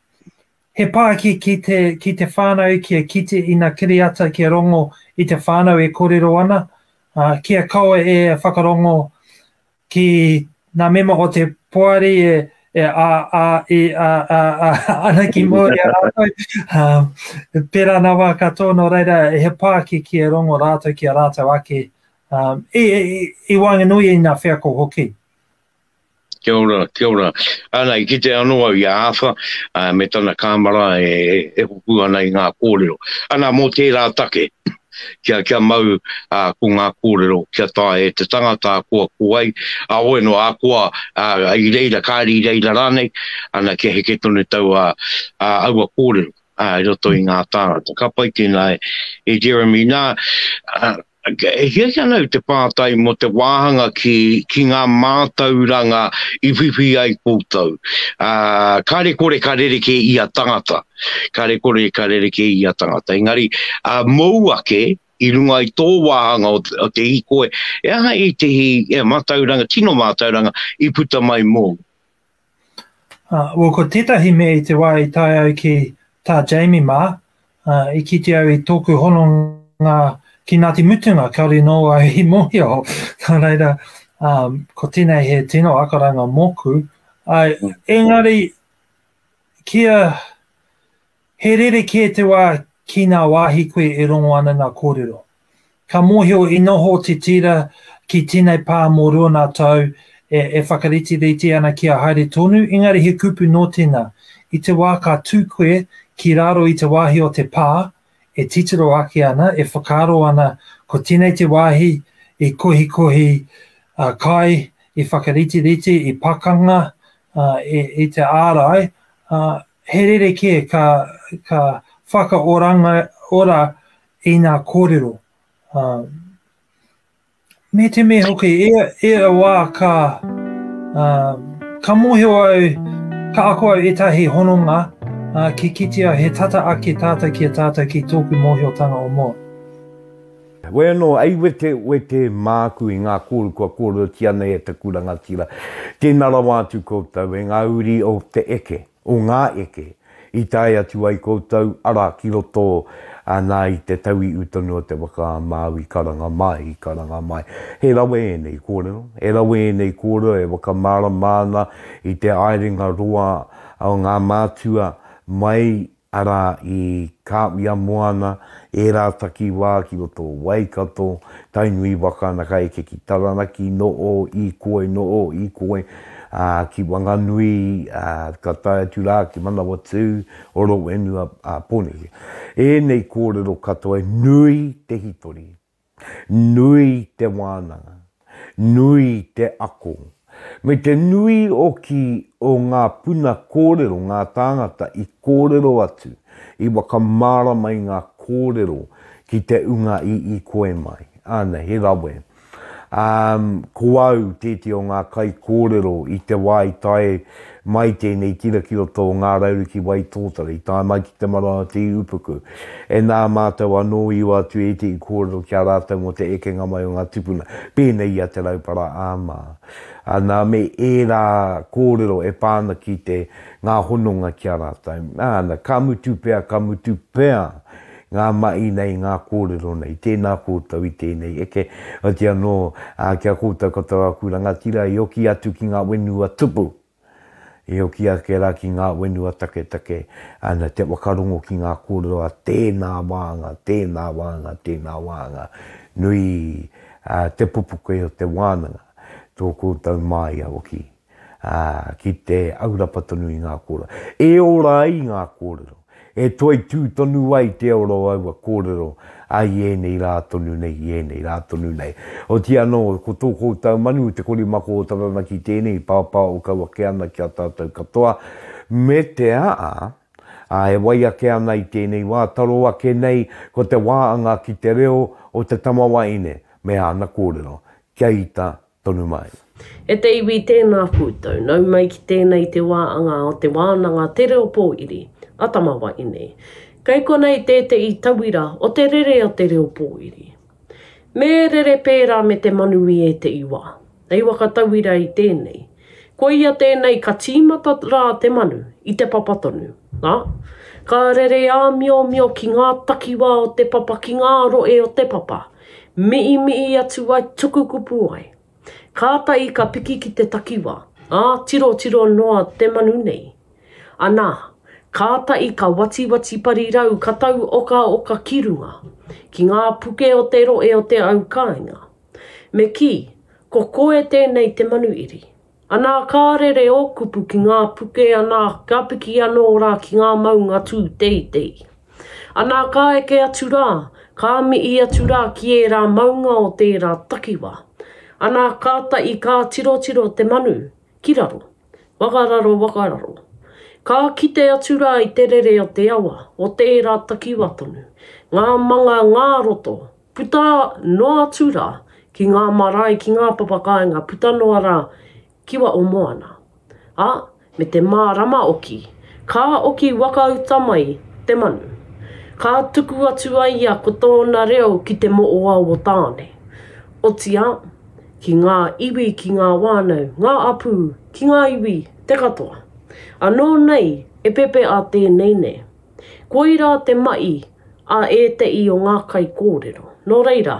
he pāki ki te, ki te whānau ki a kite i nā kiriata ki a rongo i te whānau e kōrero ana, uh, ki a kaua e whakarongo ki ngā mema o te poari e, e a, a, e a, a, a, ana ki Māori a rātou. Um, pērā nā wā katoa, nō reira, he pāki ki e rongo rātou ki a rātou ake um, i, i, i wānganui i ngā wheako hoki. Kia ora, kia ora. Ana, i kite anō au i a Awha, uh, me tana kāmara e, e, e hoku ana i ngā kōrero. Ana, mō tērā take, kia, kia mau ā, ko ngā kōrero kia taea e te tangata a koa ko ai, a oe noa, a koa, ā, i reira, kāre i reira rānei, ana kia heke tonu tau ā, ā, aua kōrero, ā, i roto i ngā tāngata. Ka pai tēnā e, e Jeremy. Nā, ā, e hiahia ana au te pātai mō te wāhanga ki, ki ngā mātauranga i whiwhi ai koutou. Ā, kāre kore ka rerekē ia tangata. kare kore ka rerekē ia tangata. Engari, mōu ake, i runga i tō wāhanga o te hīkoi, he aha ētehi mātauranga, tino mātauranga, i puta mai mōu? Well, ko tētahi mea i te wā i tae au ki tā Jamie mā, i kite au i tōku hononga ki Ngāti Mutunga, kāore nō au i mōhio. Nā reira, ko tēnei he tino akoranga mōku. Engari, Kia He rerekē te wā ki ngā wāhi koe e rongo ana ngā kōrero. Ka mōhio i noho te tira ki tēnei pā mō rua ngā tau e, e whakariterite ana kia haere tonu, engari he kupu nō tēnā, i te wā ka tū koe ki raro i te wāhi o te pā, e titiro ake ana, e whakaaro ana ko tēnei te wāhi i kohikohi a kai, i whakaritiriti, i pakanga, a, i, i te ārai, a, he rerekē ka, ka whakaoranga ora i nā kōrero. A, Me te mea hoki, e, e a wā ka, uh, ka mōhio au, ka ako au ētahi hononga uh, ki kitea he tata ake tātou ki a tātou ki tōku mōhiotanga o mua. Koe anō, ei wete, wete māku i ngā kōru kua kōrerotia nei e taku rangatira. Tēnā rawa atu koutou e ngā uri o te eke. o ngā eke i tae atu ai koutou, arā, ki roto nā i te tauiu tonu o te waka a Māui, karanga mai, karanga mai. He rawe ēnei kōrero, he rawe ēnei kōrero e whakamārama ana i te aerenga roa o ngā mātua mai, arā, i Kāwhia moana, ērā takiwā ki roto o Waikato, Tainui waka ana ka eke ki Taranaki, nō ō i koe, nō ō i koe, ā, ki Wanganui, ā, ka tae atu rā ki Manawatū, Horowhenua, ā, Pōneke. Ēnei kōrero katoa nui te hitori, nui te wānanga, nui te ako, me te nui hoki o ngā puna kōrero, ngā tāngata i kōrero atu, i whakamārama i ngā kōrero ki te unga i ikoe mai. Āna, he rawe. Umm, ko au tēti o ngā kaikōrero i te wā i tae mai tēnei tira ki roto o Ngā Rauru ki Waitōtara, i tae mai ki Te Marae o Te Ihupuku. E nā mātou anō i ua atu ētehi kōrero ki a rātou mō te ekenga mai o ngā tupuna, pēnei i a Te Raupara Āmā. Ā, nā me ērā kōrero e pā ana ki te ngā hononga ki a rātou. Āna, ka mutu pea, ka mutu pea Ngā mahi nei, ngā kōrero nei. Tēnā koutou i tēnei eke. Otirā anō, ki a koutou katoa aku rangatira i hoki atu ki ngā whenua tupu, i hoki ake rā ki ngā whenua taketake, ana, te whakarongo ki ngā kōrero a tēnā wāhanga, tēnā wāhanga, tēnā wāhanga. Nui te pupuke o te wānanga, tō koutou māia hoki. ā, ki te aurapa tonu i ngā kōrero. E ora ai ngā kōrero, e toitū tonu ai te ora o aua kōrero, ā, i ēnei rā tonu nei, i ēnei rā tonu nei. Otiia anō, ko tō koutou manu, te korimako o Taranaki tēnei, pāpā o kau ake ana ki a tātou katoa, me te aha, ā, e wai ake ana i tēnei wā, taro ake nei, ko te wā anga ki te reo o te tamawaine me āna kōrero, kia ita tonu mai. E te iwi tēnā koutou, nau mai ki tēnei te wā anga o te wānanga Te Reo Pōiri a Tamawae nei. Kei konei tētehi tauira o te rere o te reo pōiri. Me rere pērā me te manu i ētehi wā. Hei whakatauira i tēnei, koia tēnei ka tīmata rā te manu i te papa tonu, ā, ka rere āmiomio ki ngā takiwā o te papa, ki ngā rohe o te papa. Miimiii atu ai tuku kupu ai. Kātahi ka piki ki te takiwā, ā, tirotiro noa te manu nei. Anā, kātahi ka watiwati parirau ka tau okaoka ki runga, ki ngā puke o te rohe o te au kāinga. Me kī, ko koe tēnei te manu iri. Anā ka rere ō kupu ki ngā puke anā ka piki anō rā ki ngā maunga tū teitei. Anā ka eke atu rā, ka mihi atu rā ki ērā maunga o tērā takiwā. Anā kātahi ka tirotiro te manu, ki raro, wakararo wakararo. Ka kite atu rā i te rere o te awa, o tērā takiwā tonu, ngā manga ngā roto, Puta noa atu ra ki nga marae ki nga papakāinga puta noa ra kiwa o moana. A, me te mārama oki, ka oki waka uta mai te manu. Ka tuku atu a ia ko tōna reo ki te moʻoawa tāne. Otiā, ki ngā iwi ki ngā wānau, ngā apū, ki ngā iwi, te katoa. Anō nei e pepeʻa tēnei nei. Koirā te maʻi a ēteʻi o ngā kaikōrero. Nō reira,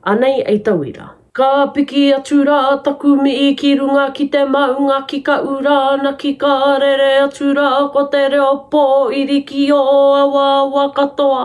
anei ei tauira. Ka piki atu rā taku mihi ki runga ki te maunga ki ka ura ana ki ka rere atu rā ko te reo pō irikiō awaawa katoa.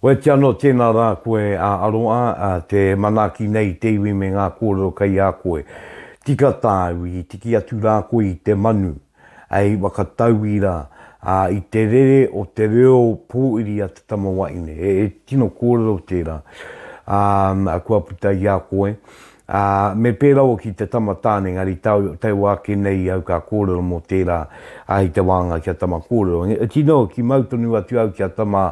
Oati anō tēnā rā koe a Aroa te manaaki nei i te iwi me ngā kōrero kei a koe. Tika tāu i tiki atu rā koe i te manu, hei whakatauira i te rere o te reo pōuri a te tama wahine. He tino kōrero tērā kua puta i a koe. Ā, me pērā au ki te tama tāne, engari taua ake nei au ka kōrero mō tērā, ā, i te wānanga kia tama kōrero. Engari, tino ki mau tonu atu au kia tama,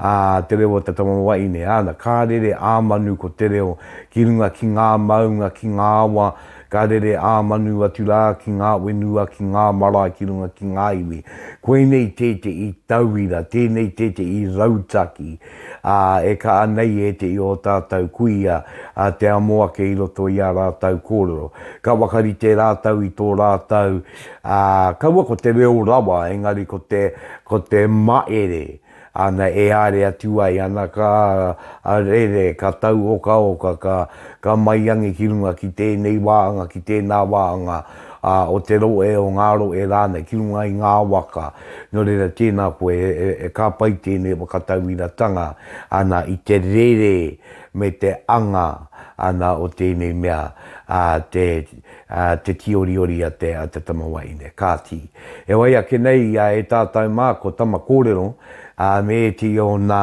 ā, te reo o te tama wahine. Āna, ka rere ā manu ko te reo ki runga ki ngā maunga, ki ngā awa, ka rere ā manu atu rā ki ngā whenua, ki ngā marae ki runga ki ngā iwi. Koinei tētehi tauira, tēnei tētehi rautaki. Ā, e kaha nei e te i ō tātou kuia a te amo ake i roto i ā rātou kōrero. Ka whakarite rātou i tō rātou, ā, kaua ko te reo rawa, engari ko te, ko te maere, ana, e āre atu ai, ana, ka rere, ka tau okaoka, ka, ka maiangi ki runga ki tēnei wāhanga, ki tēnā wāhanga, ā, o te rohe, o ngā rohe rānei ki runga i ngā waka, nō reira tēnā koe e ka pai tēnei whakatauiratanga ana i te rere me te anga ana o tēnei mea te tīoriori a te tama wahine. Kāti, e wai ake nei ia e tātou mā ko Tama Kōrero me ētehi o nā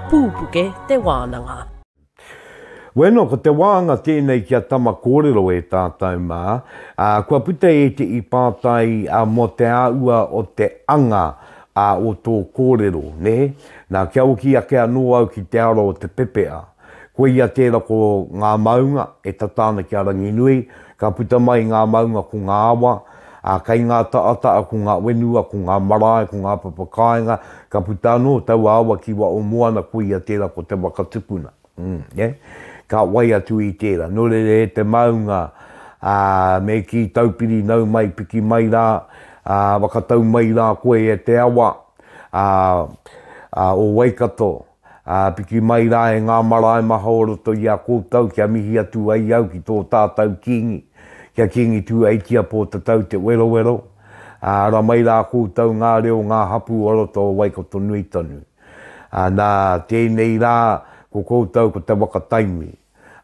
Pūpuke te wānanga. Bueno, ko te wānga tēnei ki a Tama kōrero e tātou mā, ā, kua puta ētehi pātai mō te āhua o te anga o tō kōrero, nē? Nā, kia hoki ake anō au ki te ara o te pepea. Koia tērā ko ngā maunga e tata ana ki a Ranginui, ka puta mai ngā maunga ko ngā awa, Ā, kei ngā taʻataʻa ko ngā whenua, ko ngā marae, ko ngā papa kāinga, ka puta anō taua awa ki waho moana, koia tērā ko te waka tukuna. Nē? Ka wai atu i tērā. Nō reira e te maunga, ā, me kī, Taupiri, nau mai, piki mai rā, ā, whakatau mai rā koe e te awa, ā, ā, o Waikato, Ā, piki mai rā e ngā marae maha o roto i a koutou kia mihi atu ai au ki tō tātou kīngi, ki a Kīngi Tūeitia Pōtatau Te Werowero, ā, ara mai rā koutou ngā reo o ngā hapū o roto o Waikato-nui-tonu. Ā, nā tēnei rā ko koutou ko Te Waka-taimi.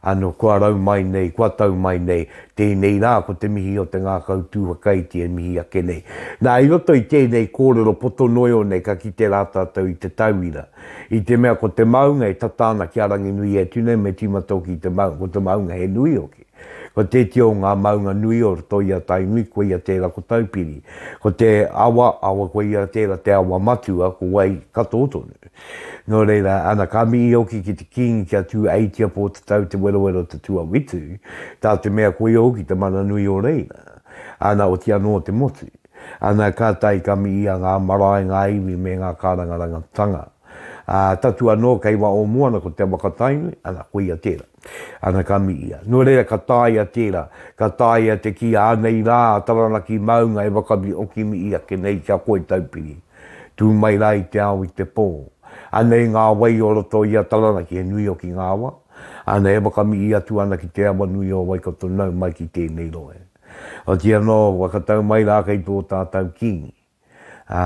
Ano kua rau mai nei, kua tau mai nei, tēnei rā ko te mihi o te ngākau tū whakaiti e mihi ake nei. Nā, i roto i tēnei kōrero poto noio nei ka kite rā tātou i te tauira. I te mea ko te maunga e tata ana ki a Ranginui e tu nei me tīma tōki i te maunga, ko te maunga he nui hoki. Ko tētia o ngā maunga nui o roto i a Tainui koia tērā ko Taupiri. Ko te awa, awa koia tērā te awa matua ko wai katoa tonu. Nō reira, ana ka mihi hoki ki te Kīngi kia tū aitia pō te tau te werowero te tuawitu, tā te mea koia hoki te mana nui o reira, ana oti anō te motu. Ana ka tae ka mihi a ngā marae, ngā iwi me ngā kārangarangatanga. Ā, tatu anō kei wā o moana ko Te Awakatainui, ana koia tērā. Ana ka mihia. Nō reira ka taea tērā, ka taea te kī ānei rā a Taranaki maunga e wakabi oki mihi ake nei kia koe taupiri. Tū mai rā i te ao i te pō. Anei ngā wai o roto i a Taranaki he nui hoki ngā awa, āna e whakamihi atu ana ki te awa nui o Waikato nau mai ki tēnei rohe. Otirā anō, kua katau mai rā kei tō tātau kīngi, ā,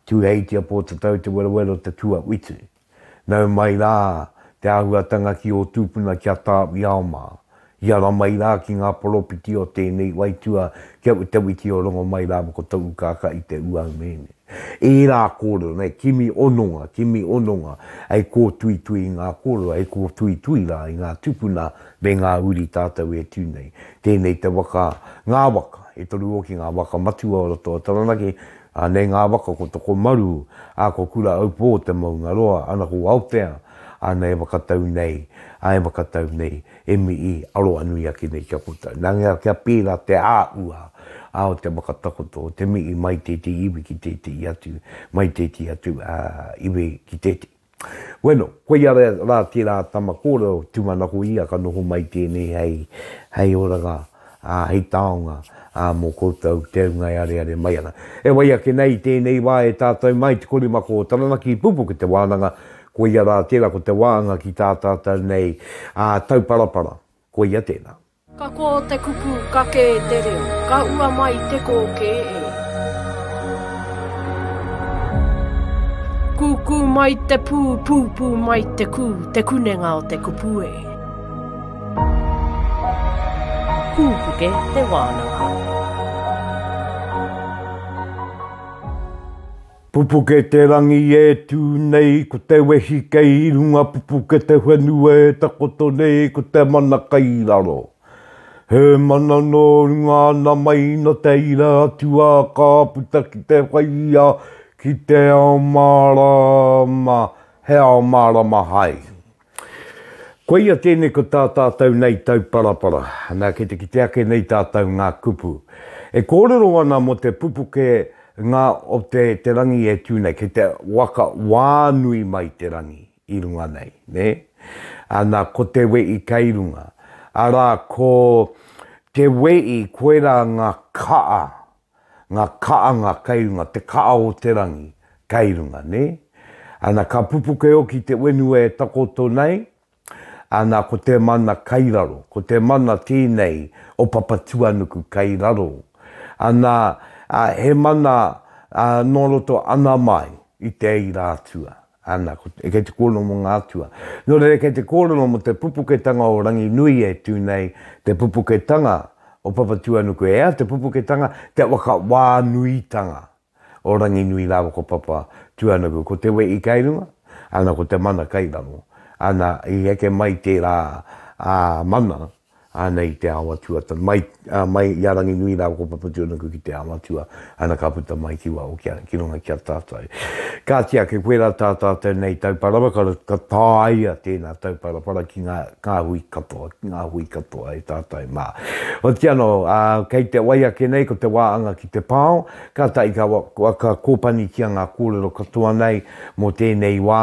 Tūheitia Pōtatau Te Werawero Te Tuawhitu. Nau mai rā te āhuatanga ki ō tūpuna ki a Tāwiao mā. I ara mai rā ki ngā poropiti o tēnei waitua ki a Utawiti o Rongomai rāua ko Toukākā i te ūau mēne. Ērā kōrero nei, kimi ononga, kimi ononga, hei kōtuitui i ngā kōrero, hei kōtuitui rā i ngā tūpuna me ngā uri tātou e tū nei. Tēnei te waka, ngā waka, e toru hoki ngā waka matua o roto o Taranaki, A nei ngā waka ko Tokomaru, a ko Kura-aupō te maunga roa, ana ko Aotea, ana e whakatau nei, a e whakatau nei, e mii, aroanui ake nei kia koutou. Na nga kia pērā te āhua a o te whakatakoto o te mii mai tētehi iwi ki tētehi atu, mai tētehi atu iwi ki tētehi. Bueno, koia rā tērā tama kōrero tūmanako ia ka noho mai tēnei hei, hei oranga, ā, hei taonga, ā, mō koutou te ūnga e areare mai ana. E wai ake nei i tēnei wā e tātou mai te korimako o Taranaki, Pupuke te wānanga, koia rā tērā ko te wāanga ki tā tātou nei, ā, tauparapara. Koia tēnā. Ka kō te kupu ka kē te reo, ka ua mai te kō kē e. Kūkū mai te pū, pūpū mai te kū, te kunenga o te kupu e. Kūpuke te wānanga. Pupuke te rangi e tū nei ko te wehi kei runga pupuke te whenua e takoto nei ko te mana kei raro He mana nō runga ana mai nō te ira atu ā ka puta ki te whai ia ki te ao mārāma He ao mārama hai Koia tēnei ko tā tātou nei tauparapara. Nā, kei te kite ake nei tātou ngā kupu. E kōrero ana mō te pupuke ngā o te te rangi e tū nei, kei te waka wā nui mai te rangi i runga nei, nē? Ā, nā, ko te weī kei runga. Arā, ko te weī, koirā ngā kaa Nga kaanga kei runga, te kaa o te rangi kei runga, ne? Ana ka pupuke oki te wenue e takoto nei, ana ko te mana kei raro, ko te mana tenei o Papatuanuku kei raro, ana he mana no roto ana mai i te eira atua, Ana, kei te kōrero mō ngā atua. Nō reira kei te kōrero mō te pupuketanga o Ranginui e tū nei, te pupuketanga o Papatūānuku. E ai te pupuketanga, te whakawānuitanga o Ranginui rāua ko Papatūānuku. Ko te wehi kei runga, ana, ko te mana kei raro. Ana, i heke mai tērā mana Anei i te ao atua, mai, mai i a Ranginui rāua ko Papatūānuku ki te ao atua, ana ka puta mai ki waho ki a, ki runga ki a tātou. Kāti ake, koirā tā tātou nei Tauparapa, ka, ka tāia tēnā Tauparapara ki ngā, ngā hui katoa, ki ngā hui katoa e tātou mā. Otiia anō, ā, kei te wai ake nei, ko te wā anga ki te pao, kātahi ka, ka kōpanitia ngā kōrero katoa nei mō tēnei wā,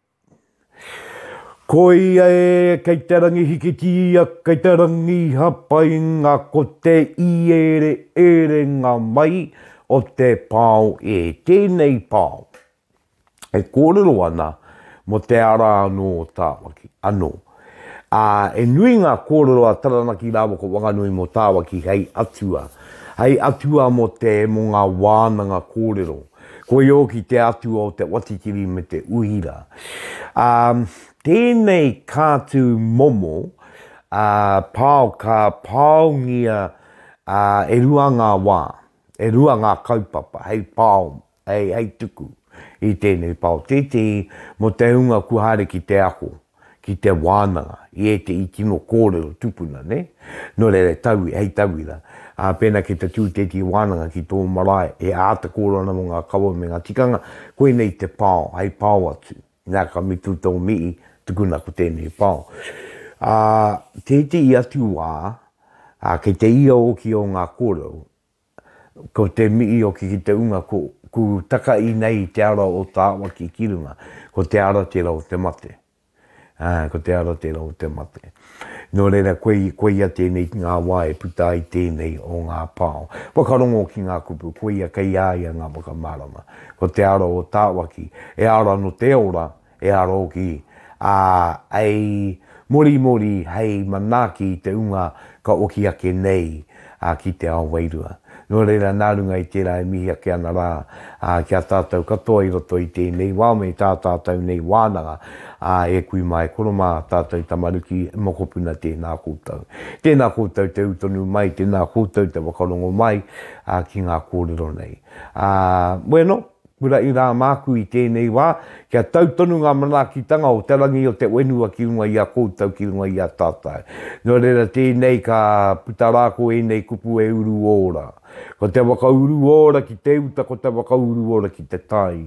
Ko ia e, kei te rangi hikitia, kei te rangi hapainga, ko te iereerenga mai o te pao e. Tēnei pao e kōrero ana mō te ara anō o Tāmaki, anō. ā, he nui ngā kōrero a Taranaki rāua ko Wanganui mō Tāwaki hei atua, hei atua mō te, mō ngā wānanga kōrero. Koi ōki te atua o te Watikiri me te Uhira. Ā, tēnei kātū momo, ā, pao ka paongia, ā, e rua ngā wā, e rua ngā kaupapa hei pao Hei hei tuku i tēnei pao tētehi mō te hunga kua haere ki te ako, ki te wānanga i ētehi tino kōrero tupuna, nē? Nō reira, hei tauira, pēnā kei te tū tētehi wānanga ki tō marae, he āta kōrero ana mō ngā kawa me ngā tikanga, koinei te pao, hei pao atu. Nā, ka mutu tō mihi, tukuna ko tēnei pao. Ā, tētehi atu wā, kei te ia hoki o ngā kōrero, Ko te mihi o ki ki te unga ko ku taka i nei i te ara o Tawaki ki runga, ko te ara tera o te mate. Ae, ko te ara tera o te mate. No reira koi, koia tenei ki nga wa e puta ai tenei o nga pao. Whakarongo ki nga kupu, koia kei a ia nga whakamarama. Ko te ara o Tawaki, e ara no te ora, E aro hoki, ā, hei morimori, hei manaaki i te hunga ka oki ake nei ki te ao wairua. Nō reira, nā runga i tērā e mihi ake ana rā ki a tātou katoa i roto i tēnei wā me tā tātou nei wānanga, ā, e kui mā, e koro mā tātou tamariki, e mokopuna tēnā koutou. Tēnā koutou te ū tonu mai, tēnā koutou te whakarongo mai ki ngā kōrero nei. Ā, bueno, Kura i rā māku i tēnei wā, kia tau tonu ngā manaakitanga o te rangi o te whenua ki runga i a koutou ki runga i a tātou. Nō reira tēnei ka puta rā ko ēnei kupu e uru ora. Ko te waka uru ora ki te uta ko te waka uru ora ki te tai.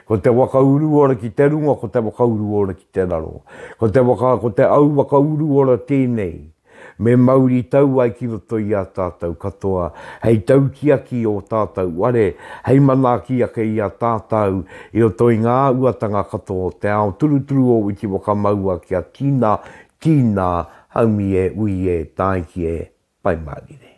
Ko te waka uru ora ki te runga ko te waka uru ora ki te raro. Ko te waka ko te au waka uru ora tēnei. Me mauri tau ai ki roto i a tātou katoa hei tautiaki i ō tātou ware, hei manaaki ake i a tātou i roto i ngā uatanga katoa o te ao, turuturu ō witi whakamaua kia tina, tina, haumi e, ui e, tāiki e, pai mārire.